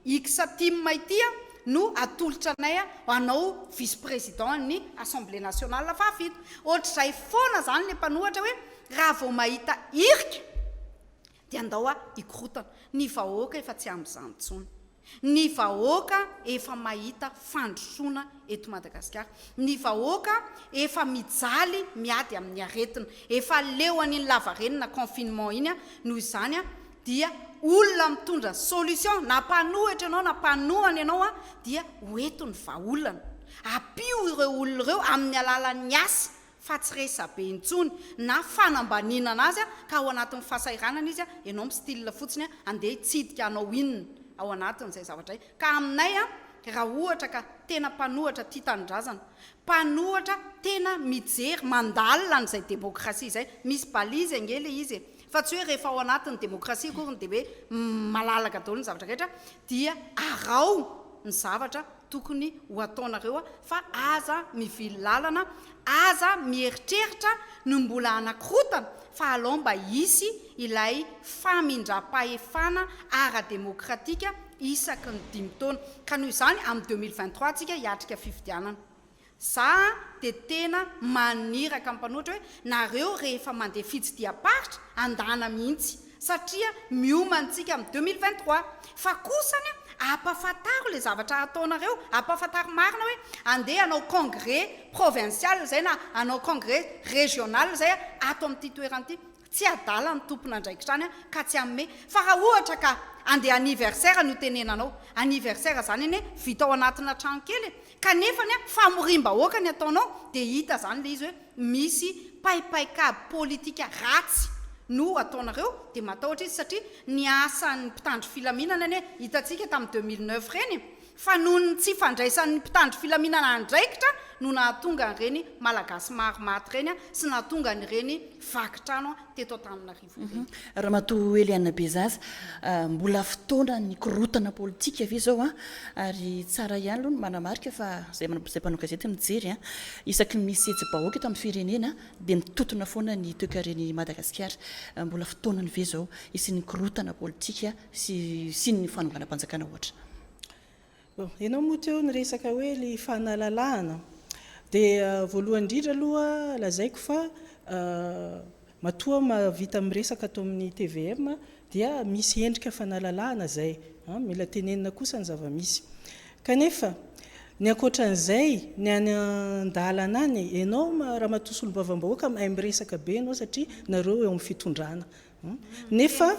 X tim ity a no atolotra anay a anao vice président an'ny assemblée nationale fahafito. Ohatr'izay foana zany le mpanohatra hoe raha vao mahita irika Dia andao hoa hikorotana. Ny vahoaka efa tsy amin'izany intsony. Ny vahoaka efa mahita fandrosoana eto Madagasikara. Ny vahoaka efa mijaly miady amin'ny aretina. Efa leo an'iny lavarenina, confinement, iny an! Noho izany an! Dia olona mitondra solution, na mpanohitra ianao na mpanohana ianao an! Dia ho eto ny vahaolana. Ampio ireo olona ireo amin'ny alalan'ny asa fa tsy resabe intsony na fanambaniana anazy ka ao anatin'ny fasahiranana izy ianao mi-style fotsiny andeha hitsidika hanao inona ao anatin'izay zavatra izay ka aminay raha ohatra ka tena mpanohatra tia tanindrazana mpanohatra tena mijery mandalina an'izay demôkrasia izay misy balise ange ilay izy e fa tsy hoe rehefa ao anatin'ny demôkrasia akoriny dia hoe malalaka daholo ny zavatra rehetra dia araho ny zavatra tokony ho ataonareo fa aza mivily lalana, aza mieritreritra ny mbola hanakorotana fa alao mba hisy ilay famindram-pahefana ara-demokratika isaky ny dimy taona ka noho izany amin'ny deux mille vingt trois tsika hiatrika fifidianana. Za de tena maniraka mpanoritra hoe nareo rehefa mandeha fitsidiham-paritra andana mihitsy satria mioma antsika amin'ny deux mille vingt trois fa kosa anie ampafantaro le zavatra hataonareo ampafantaro marina hoe andeha hanao congrès provincial zay na hanao congrès regional zay ato amin'ity toerana ity Tsy adala ny tompon'andraikitra any ka tsy hanome. Fa raha ohatra ka andeha anniversaire no tenenanao, anniversaire zany anie vita ao anatina trano kely e, kanefa anie famoriam-bahoaka ny ataonao dia hita zany le izy hoe misy paipaikabo politika ratsy no ataonareo dia matahotra izy satria ny asan'ny mpitandro filaminana anie hitantsika tamin'ny deux mille neuf reny fa noho ny tsy fandraisan'ny mpitandro filaminana andraikitra no nahatonga an'ireny Malagasy maro maty ireny sy nahatonga an'ireny vaky trano teto Antananarivo ireny. Ramatoa Eliane Bezaza, mbola fotoana nikorontana politika ve izao ary tsara ihany aloha ny manamarika fa izay mpanao gazety mijery isaky ny misy hetsi-bahoaka eto amin'ny firenena dia mitontona foana ny toekaren'i Madagasikara. Mbola fotoanany ve izao hisian'ny korontana politika sy sy ny fanonganam-panjakana ohatra. Ianao moa teo niresaka hoe ilay fanalalahana dia voalohany indrindra aloha lazaiko fa matoa mahavita miresaka ato amin'ny tvm dia misy endrika fanalalahana izay, mila tenenina kosa ny zava-misy. Kanefa ny ankoatran'izay ny any an-dalana any, ianao Ramatoa Solombavambahoaka mahay miresaka be ianao satria nareo eo amin'ny fitondrana Nefa,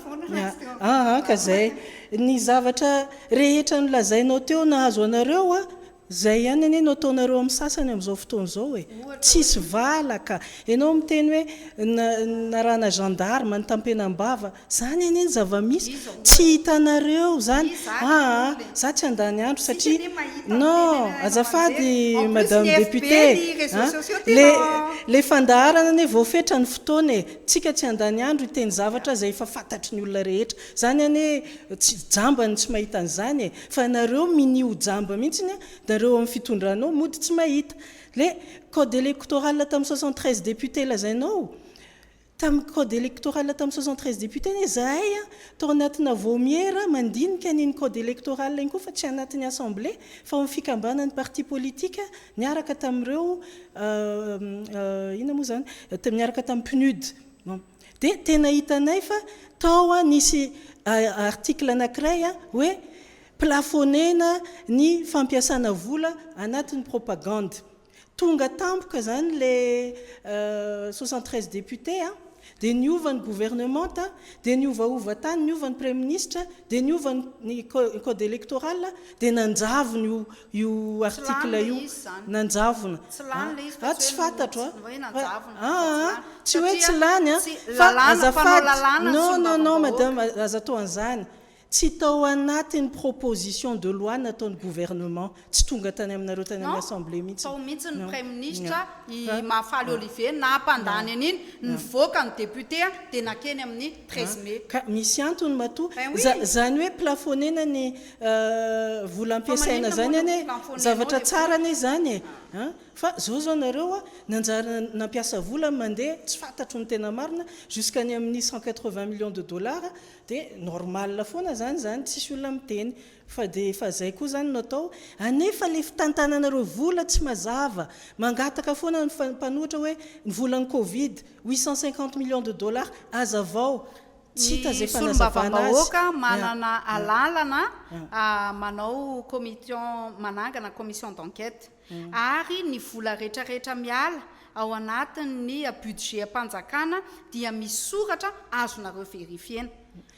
aa ka izay, ny zavatra rehetra nolazainao teo nahazo anareo a, izay ihany anie no ataonareo amin'ny sasany amin'izao fotoana izao e. Tsisy valaka. Ianao miteny hoe narahana gendarme nitampenam-bava, izany anie ny zava-misy, tsy hitanareo izany, aa za tsy handany andro satria, non, azafady madame députée a, ilay fandaharana anie voafetra ny fotoana e. Tsika tsy handany andro hiteny zavatra izay efa fantatry ny olona rehetra. Izany anie tsy jamba ny tsy mahita an'izany e! Fa ianareo minia ho jamba mihitsiny a! Da ireo amin'ny fitondrana ao mody tsy mahita. Le code electoral tamin'ny soixante treize députés lazainao, tamin'ny code electoral tamin'ny soixante treize députés anie izahay a! Tao anatina vaomiera mandinika an'iny code electoral iny koa fa tsy anatin'ny assemblée fa ao amin'ny fikambanan'ny parti politique. Niaraka tamin'ireo, inona moa izany, niaraka tamin'ny PNUD. Dia tena hitanay fa tao nisy article anankiray hoe plafonner-na ny fampiasana vola anatin'ny propagande. Tonga tampoka izany ilay soixante treize députés, dia niova ny governemanta, dia niovaova tany, niova ny praiminisitra, dia niova ny code électoral, dia nanjavona io Io article io nanjavona a a tsy fatatro a fa a a tsy hoe tsy lany a fa azafady non non non madame aza atao an'izany tsy tao anatin'ny proposition de loi nataon'ny gouvernement tsy tonga tany aminareo tany amin'ny assemblée mihitsy non tao mihitsy ny praiminisitra i Mahafaly Olivier nampandany an'iny nivoaka ny député dia nankeny amin'ny treize mai ka misy antony matoa za zany hoe plafonner-na ny vola ampiasaina zany anie e, zavatra tsara anie zany e, an, fa zao zao nareo an, nanjary nampiasa vola mandeha tsy fantatro ny tena marina, jusqu'any amin'ny cent quatre vingt millions de dollars, dia normal foana zany zany tsisy olona miteny, fa dia efa zay koa zany no atao, anefa ilay fitantananareo vola tsy mazava, mangataka foana ny mpanohitra hoe ny volan'ny covid, huit cent cinquante millions de dollars, azavao, Ny solombavambahoaka manana alalana manao commition manangana commission d'enquête ary ny vola rehetra rehetra miala ao anatin ny budget mpanjakana dia misy soratra azonareo verifiena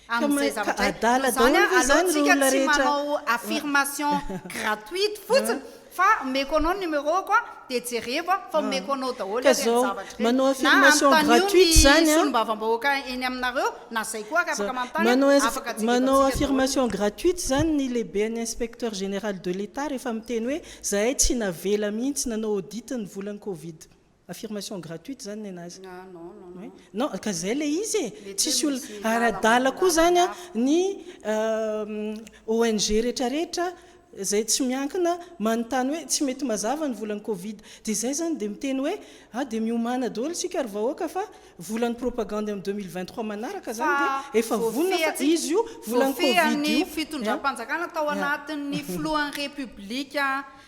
amin zay zavatra zay noho zany aloha tsika tsy manao affirmation gratuite fotsiny Fa omeko anao ny numéro ko a, dia jerevo a, fa omeko anao daholo ary ny zavatra ireny, na anontanio ny solombavambahoaka eny aminareo, na zay koa ary afaka manontany a, afaka jerevantsika daholo. Manao affirmation gratuite izany ny lehiben'ny inspecteur général de l'Etat rehefa miteny hoe zahay tsy navela mihitsy nanao audit ny volan'ny covid. Affirmation gratuite zany nenazy. Ah non non non. Oui non ka zay le izy e. Mety Tsisy hoe misy olona làlana ara-dala koa manodidina zany an ny ONG rehetra rehetra zay tsy miankina manontany hoe tsy mety mazava ny volan'ny covid de zay zany de miteny hoe ah de miomana daholo isika ry vahoaka fa volan'ny propagandy amin'ny deux mille vingt trois manaraka Fa zany de efa vonona fa voafehatsi- izy io volan'ny covid voafehan'ny io fitondram-panjakana tao anatin'ny filohan'ny Repoblika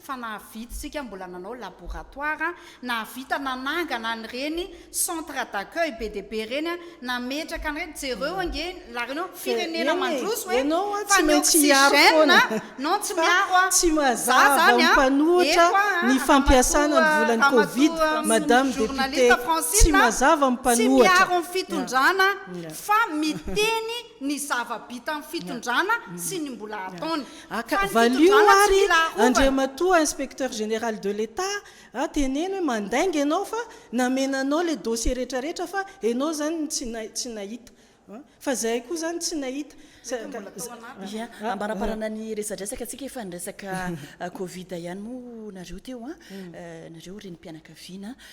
fa nahavidy isika mbola nanao laboratoire, nahavita nanangana an'ireny centre d'accueil be dia be ireny, nametraka an'ireny, jereo ange laharenao, firenena mandroso hoe fa ny oxygène, non tsy miaro an, za zany an, eto an, ramatoa, ramatoa sy ny journaliste Francine an, tsy miaro ny fitondrana fa miteny ny zava-bitan'ny fitondrana sy ny mbola ataony. Aka, valio ary Andriamatoa Inspecteur Général de l'Etat a, teneno hoe mandainga ianao fa namena anao ilay dossier rehetra rehetra fa ianao izany no tsy tsy nahita an! Fa izahay koa izany tsy nahita. Ia, ambaraparana ny resadresaka antsika efa ny resaka covid ihany moa nareo teo an! Nareo renim-pianakaviana.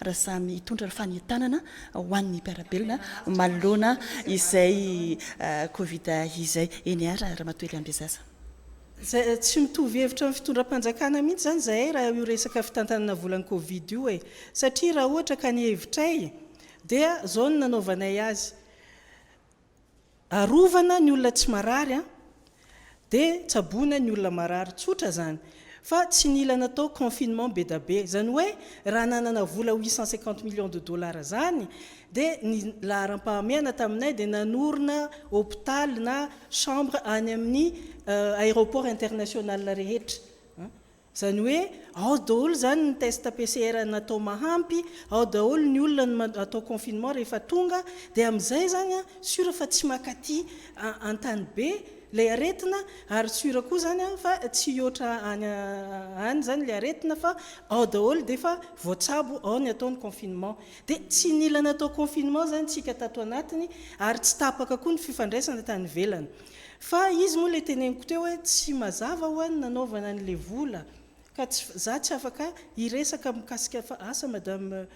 raha samy hitondra ny fanentanana ho an'ny mpiara-belona manoloana izay Covid izay. Eny ary Ramatoa Eliambezaza. Tsy mitovy hevitra amin'ny fitondram-panjakana mihitsy izany izahay raha io resaka fitantanana volan'ny Covid io e! Satria raha ohatra ka ny hevitray dia izao no nanaovanay azy, Arovana ny olona tsy marary an! Dia tsaboina ny olona marary. Tsotra izany. Fa tsy nila natao confinement bedabe. Izany hoe raha nanana vola huit cent cinquante millions de dollars izany dia ny laharam-pahamehana taminay dia nanorina hopitaly na chambre any amin'ny aéroport international rehetra. Izany hoe ao daholo izany ny test PCR natao mahampy, ao daholo ny olona no atao confinement rehefa tonga, dia amin'izay izany sur fa tsy makaty an-tany be ilay aretina ary sur koa izany fa tsy hihoatra any any izany ilay aretina fa ao daholo dia efa voatsabo ao ny atao ny confinement. Dia tsy nila natao confinement izany isika tato anatiny ary tsy tapaka koa ny fifandraisana tany ivelany. Fa izy moa ilay teneniko teo hoe tsy mazava ho'a ny nanaovana an'ilay vola ka tsy, za tsy afaka hiresaka mikasika fa asa madame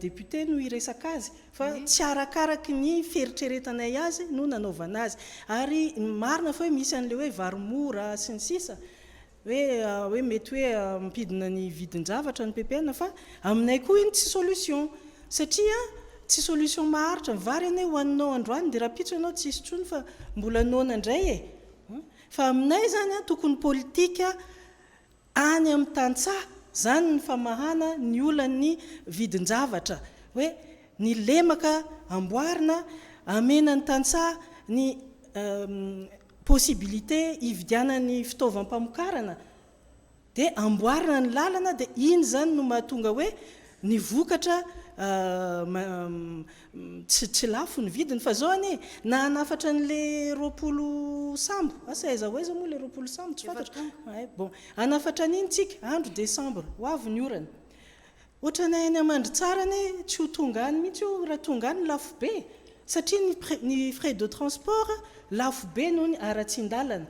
députée no hiresaka azy fa tsy arakaraky ny fieritreretanay azy no nanaovana azy. Ary ny marina fa hoe misy an'ilay hoe vary mora sy ny sisa, hoe hoe mety hoe ampidina ny vidin-javatra ny ppn fa aminay koa iny tsy solution satria tsy solution maharitra ny vary anie hohaninao androany dia rahampitso ianao tsisy tsony fa mbola noana indray e fa aminay zany an tokony politika any amin'ny tantsaha zany ny famahana ny olan'ny vidin-javatra hoe ny lemaka amboarina amena ny tantsaha ny possibilité hividianany fitaovam-pamokarana dia amboarina ny lalana dia iny izany no mahatonga hoe ny vokatra tsy lafo ny vidiny fa zao anie na hanafatra anle roapolo sambo asa aiza ho aiza moa le roapolo sambo tsy fantatro bon hanafatra an'iny tsika andro décembre ho avy ny orana Otranay any Mandritsara anie tsy ho tonga any mihitsy io raha tonga any lafo be satria ny ny frais de transport lafo be noho ny aratsindalana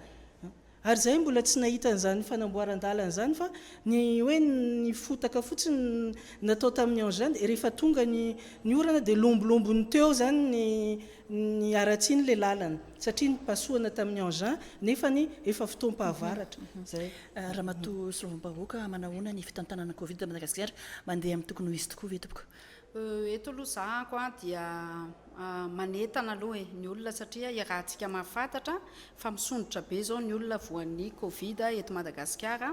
ary izahay mbola tsy nahita an'izany fanamboaran-dalana izany fa ny hoe ny fotaka fotsiny natao tamin'ny engin dia rehefa tonga ny ny orana dia lombolombony teo izany ny ny aratsiny ilay lalana satria nipasohana tamin'ny engin nefa ny efa fotoam-pahavaratra izay Ramatoa solombavahoaka, manahoana ny fitantanana covid eto Madagasikara? Mandeha amin'ny tokony ho izy tokoa ve tompoko? Eto aloha zah ako a dia manetana aloha e ny olona satria iarahantsika mahafantatra fa misondrotra be zao ny olona voan'ny covid eto Madagasikara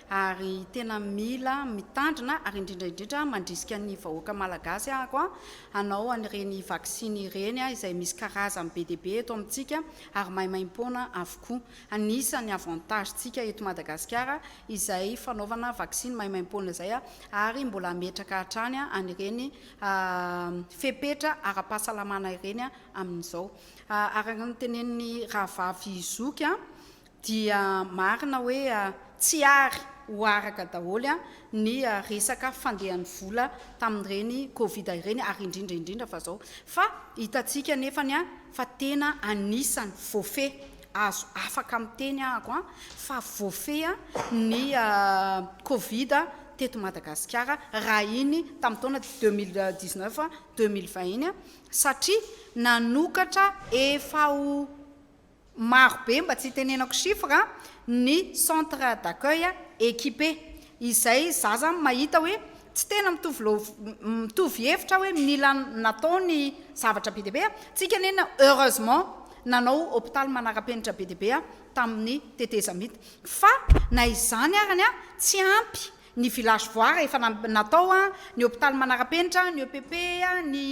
ary tena mila mitandrina ary indrindra indrindra mandrisika ny vahoaka malagasy aho ako a hanao an'ireny vaksiny ireny izay misy karazany be dia be eto amintsika ary maimaimpoana avokoa. Anisan'ny avantage tsika eto Madagasikara izay fanaovana vaksiny maimaimpoana izay ary mbola hametraka hatrany an'ireny fepetra ara-pahasalamana ireny amin'izao. Araka ny tenenin'ny rahavavy zoky dia marina hoe tsy ary ho araka daholo ny resaka fandehan'ny vola tamin'ireny covid ireny ary indrindra indrindra fa izao fa hitantsika anefany fa tena anisan'ny voafehy azo afaka miteny ahako an fa voafehy an ny covid teto Madagasikara raha iny tamin'ny taona deux mille dix neuf deux mille vingt iny an satria nanokatra efa ho maro be mba tsy hitenenako chiffre an ny centre d'accueil équipé izay za zany mahita hoe tsy tena mitovy mitovy hevitra aho hoe mila natao ny zavatra be dia be tsika neny heureusement nanao hopitaly manarapenitra be dia be tamin'ny tetezamita fa na izany arany a tsy ampy ny village voire efa natao a ny hopitaly manarapenitra ny epp a ny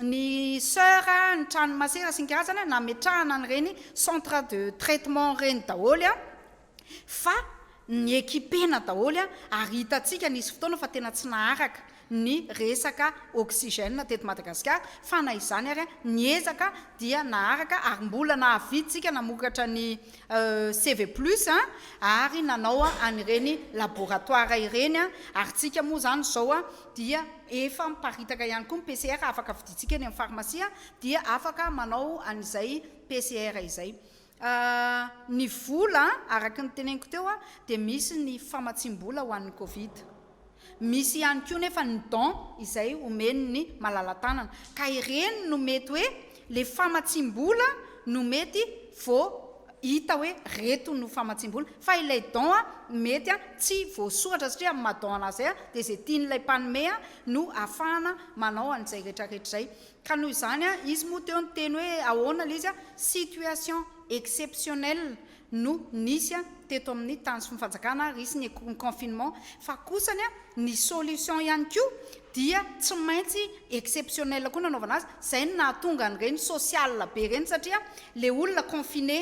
ny soeur a ny trano masera sy ny karazany nametrahana an'ireny centre de traitement ireny daholo a fa ni ekipe-na daholo ary hitantsika nisy fotoana fa tena tsy naharaka ny resaka oxygène teto Madagasikara fa na izany ary niezaka dia naharaka ary mbola nahaviantsika namokatra ny CV plus ary nanao an'ireny laboratoire ireny ary tsika moa izany izao dia efa miparitaka ihany koa ny PCR afaka vidintsika eny amin'ny pharmacie dia afaka manao an'izay PCR izay. A, Ny vola, araka ny teneniko teo, dia misy ny famatsiam-bola ho an'ny covid. Misy ihany koa nefa ny don izay omen'ny malala-tanana. Ka ireny no mety hoe ilay famatsiam-bola no mety vo hita hoe reto no famatsiam-bola. Fa ilay don mety tsy voasoratra satria amin'ny maha don anazy izay dia izay tian'ilay mpanome no ahafahana manao an'izay retraretra izay. Ka noho izany, izy moa teo niteny hoe ahoana ilay izy, situation exceptionnelle no nisy teto amin'ny tany sy ny fanjakana ary hisy ny confinement fa kosa ny solution ihany koa dia tsy maintsy exceptionnelle koa no anaovana azy, izay no nahatonga an'ireny social be ireny satria ilay olona confiné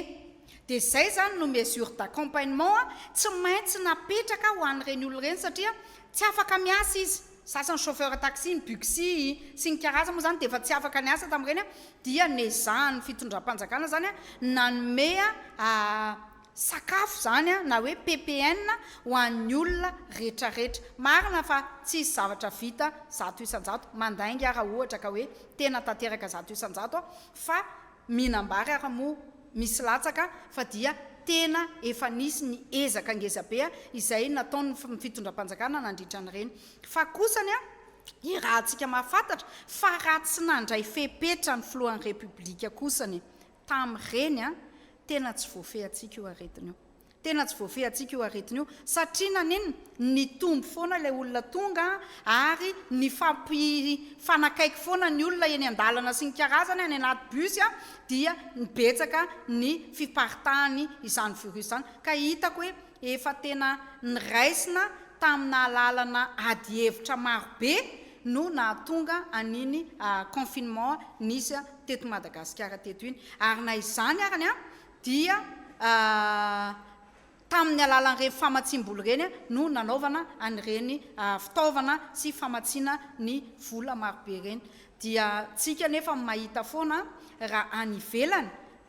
dia izay izany no mesure d'accompagnement tsy maintsy napetraka ho an'ireny olona ireny satria tsy afaka miasa izy. Sasany chauffeur taxi ny buxi sy ny karaza moa zany dia efa tsy afaka niasa tamin'ireny an, dia nezahan'ny fitondram-panjakana zany an nanome sakafo zany an na hoe PPN ho an'ny olona retraretra. Marina fa tsisy zavatra vita zato isan-jato, mandainga raha ohatra ka hoe tena tanteraka zato isan-jato an, fa Mihinam-bary ary moa misy latsaka fa dia tena efa nisy ny ezaka ngezabe izay nataon'ny fitondram-panjakana nandritra an'ireny. Fa kosa ny irahantsika mahafantatra fa raha tsy nandray fepetra ny filohan'ny Repoblika kosa ny tamin'ireny, tena tsy voafehintsika io aretina io. Tena tsy voafehintsika io aretina io satria naninona? Nitombo foana ilay olona tonga ary nifampifanakaiky foana ny olona eny an-dalana sy ny karazany any anaty bus dia nibetsaka ny fiparitahan' izany virus izany ka hitako hoe efa tena niraisina tamin' alalana ady hevitra maro be no nahatonga an' iny confinement nisy teto Madagasikara teto iny ary na izany arany dia tamin'ny alalan'ireny famatsiam-bola ireny no nanaovana an'ireny fitaovana sy famatsiana ny vola marobe ireny. Dia tsika anefa mahita foana raha any ivelany,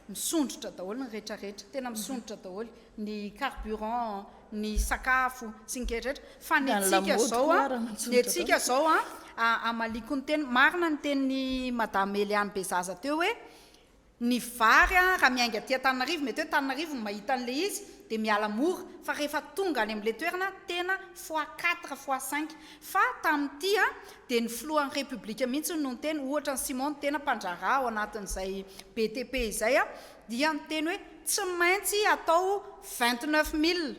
misondrotra daholo ny retraretra, tena misondrotra daholo ny carburant, ny sakafo sy ny retraretra, fa ny antsika izao, ny antsika izao an, amaliako ny teny, marina ny tenin'i Madame Eliane Bezaza teo hoe, Ny vary an, raha miainga aty Antananarivo, mety hoe Tananarivo no mahita an'ilay izy, dia miala mora, fa rehefa tonga any amin'ilay toerana, tena fois quatre, fois cinq. Fa tamin'ity an, dia ny filohan'ny Repoblika mihitsy hono no niteny, ohatra an'i Simon tena mpandraharaha ao anatin'izay BTP izay an, dia niteny hoe tsy maintsy atao vingt neuf mille.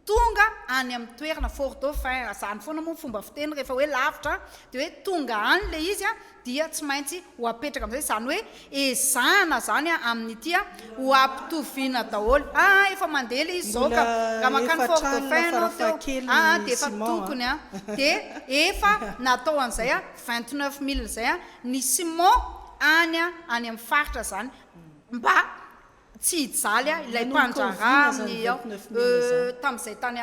Tonga any amin'ny toerana, Fort Dauphin, izany foana moa ny fomba fiteny rehefa hoe lavitra dia hoe tonga any ilay izy dia tsy maintsy ho apetraka amin'izay, izany hoe ezahana izany amin'ity ho ampitoviana daholo, aa efa mandeha ilay izy izao ka raha mankany Fort Dauphin ianao teo aa dia efa tokony an dia efa natao an'izay an vingt neuf mille izay an ny Simon any an any amin'ny faritra izany mba Tsy hijaly aho ilay mpandraharaha amin'ny ao tamin'izay tany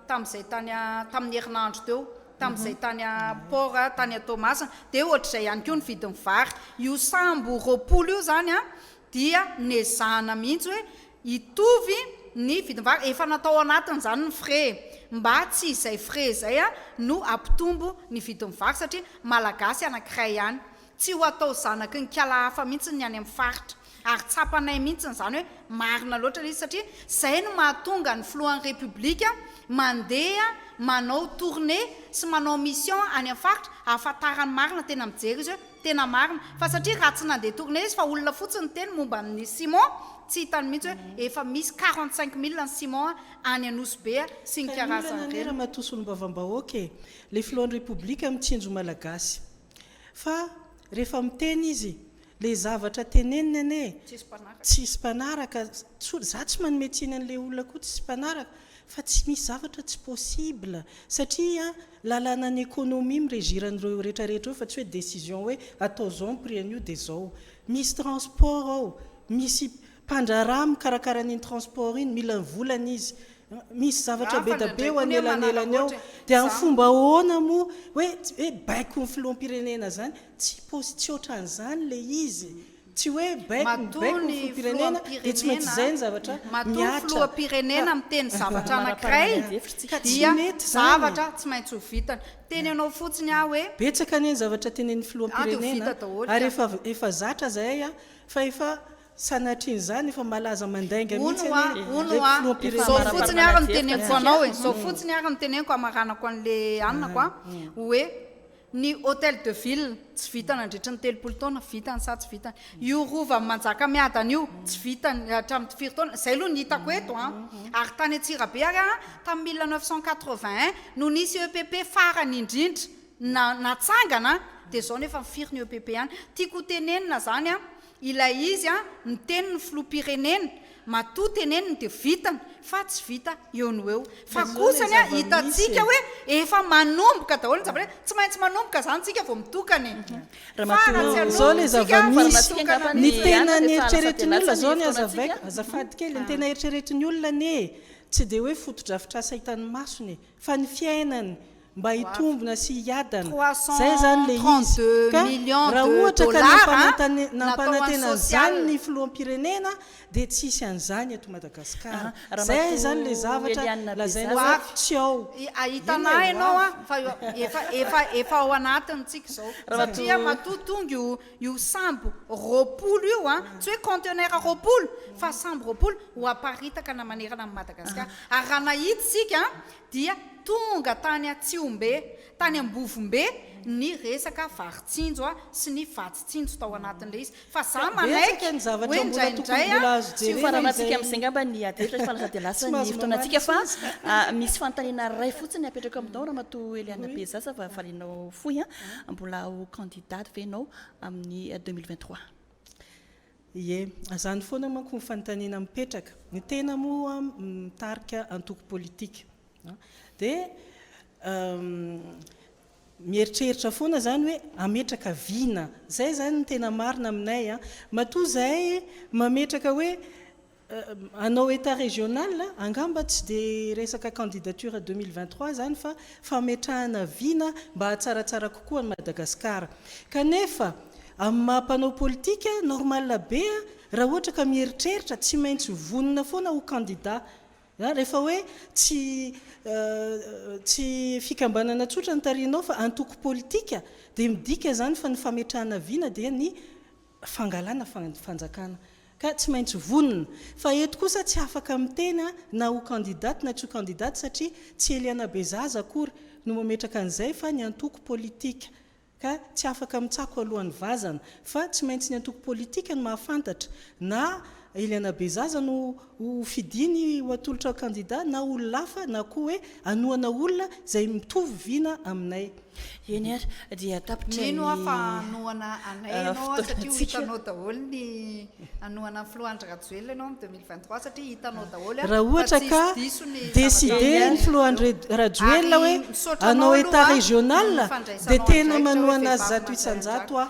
tamin'izay tany tamin'ny herinandro teo, tamin'izay tany port tany Toamasina, dia ohatr'izay ihany koa ny vidin'ny vary. Io sambo roapolo io izany an, dia nezahana mihitsy hoe hitovy ny vidin'ny vary, efa natao anatiny izany ny frais e, mba tsy izay frais izay no hampitombo ny vidin'ny vary satria malagasy anankiray ihany. Tsy ho atao zanaky ny kala hafa mihitsy ny any amin'ny faritra. Ary tsapanay mihitsy izany hoe marina loatra ilay izy satria izay no mahatonga ny filohan'ny Repoblika mandeha manao tournée sy manao mission any amin'ny faritra ahafantarany marina tena mijery izy hoe tena marina fa satria raha tsy nandeha tournée izy fa olona fotsiny niteny momba ny ciment tsy hitany mihitsy hoe efa misy quarante cinq mille ny ciment any Anosibe sy ny karazany ireny. Taniana anie Ramatoa Solombavambahoaka e! Ilay filohan'ny Repoblika mitsinjo Malagasy. Fa rehefa miteny izy, ilay zavatra teneniny anie tsisy mpanaraka, za tsy manome tsiny an'ilay olona koa tsisy mpanaraka fa tsy misy zavatra tsy possible satria lalanan'ny economie mi-regir an'ireo rehetra rehetra eo fa tsy hoe décision hoe atao zao ny prix an'io dia zao, misy transport ao, misy Mpandraharaha mikarakara an'iny transport iny mila ny volany izy. Misy zavatra bedabe eo anelanelany ao. Dia amin'ny fomba ahoana moa hoe hoe baiko ny filoham-pirenena izany? Tsy pos tsy ohatran'izany ilay izy. Tsy hoe baiko ny baiko ny filoham-pirenena dia tsy maintsy izay ny zavatra mihatra. Matoa ny filoham-pirenena miteny zavatra anankiray dia zavatra tsy maintsy ho vitany. Teny anao fotsiny aho hoe. Betsaka anie ny zavatra tenenin'ny filoham-pirenena ary efa efa zatra izahay fa efa. Sanatrian'izany efa malaza mandainga mihitsy anie le filoham-pirenena Zao fotsiny ary no teneniko anao e, zao fotsiny ary no teneniko hamaranako an'le anako a, oe ny hotel de ville tsy vita nandritry ny telopolo taona, vitany sa tsy vitany? io rovan'i Manjakamiadana io tsy vitany hatramin'ny firy taona? zay aloha no hitako eto a, ary tany Antsirabe ary a tamin'ny mille neuf cent quatre-vingt un no nisy EPP farany indrindra na natsangana a, de zao no efa firy ny EPP any? tiako ho tenenina zany a, Ilay izy an miteny ny filoham-pirenena matoa teneniny dia vitany fa tsy vita eo no eo fa kosa anie hitantsika hoe efa manomboka daholo ny zavatra tsy maintsy manomboka zany tsika vao mitokana e fa raha tsy hanomboka tsika vao mitokana ny tena neritreretin'ny olona zao anie azavaiko azafady kely ny tena eritreretin'ny olona anie tsy dia hoe fotodrafitrasa hitan'ny masony e fa ny fiainany mba hitombina sy hiadana, izay izany ilay izy, ka raha ohatra ka nampanantena an'izany ny filoham-pirenena dia tsy hisy an'izany eto Madagasikara, izay izany ilay zavatra lazaina hoe tsy ao, inona ilay ho avy? Io sambo roapolo io an, tsy hoe conteneur roapolo fa sambo roapolo ho aparitaka na manerana an'i Madagasikara. Ary raha nahita isika an, dia tonga tany Atsihombe, tany Ambovombe ny resaka vary tsinjo an, sy ny vatsy tsinjo tao anatin'ilay izy. Fa za manaiky hoe indraindray an, tsy ho faran'antsika amin'izay ngamba ny ady hevitra, fa lasa dia lasa ny fotoanantsika. Fa misy fanontaniana iray fotsiny apetrako aminao Ramatoa Eliana Bezasa, fa varianao fohy an, mbola ho candidat. Dady ve ianao amin'ny deux mille vingt trois? Ie, azany foana manko ny fanontaniana mipetraka. Ny tena moa mitarika antoko politika dia mieritreritra foana izany hoe hametraka vina. Izay izany no tena marina aminay. Matoa izahay mametraka hoe Hanao Etat régional, angamba tsy dia resaka candidature deux mille vingt trois izany fa fametrahana vina mba hahatsaratsara kokoa an'i Madagasikara. Kanefa amin'ny maha mpanao politika, normal be raha ohatra ka mieritreritra, tsy maintsy vonona foana ho candidat. Rehefa hoe tsy tsy fikambanana tsotra no tarihinao fa antoko politika dia midika izany fa ny fametrahana vina dia ny fangalana fanjakana ka tsy maintsy vonona fa eto kosa tsy afaka miteny na ho candidate na tsy ho candidate satria tsy Eliana Bezaza akory no mametraka an'izay fa ny antoko politika ka tsy afaka mitsako alohan'ny vazana fa tsy maintsy ny antoko politika no mahafantatra na Eliana Bezaza no ho fidiny ho atolotra ho kandida na olona hafa na koa hoe hanohana olona izay mitovy vina aminay. Eny ary dia tapitra ny fotoana antsika. Mino aho fa hanohana anay ianao satria hitanao daholo ny hanohana ny filoha Andry Rajoelina ianao amin'ny deux mille vingt trois satria hitanao daholo fa tsy hisy diso ny zava-drehetra. Ary misaotra anao aloha ny fandraisanao andraikitra.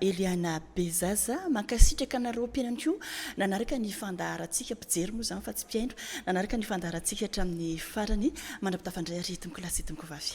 Eliana Bezaza, mankasitraka anareo mpihaino koa nanaraka ny fandaharantsika, mpijery moa izany fa tsy mpihaino, nanaraka ny fandaharantsika hatramin'ny farany. Mandrapitafa indray ary tompoko lahy sy tompoko vavy.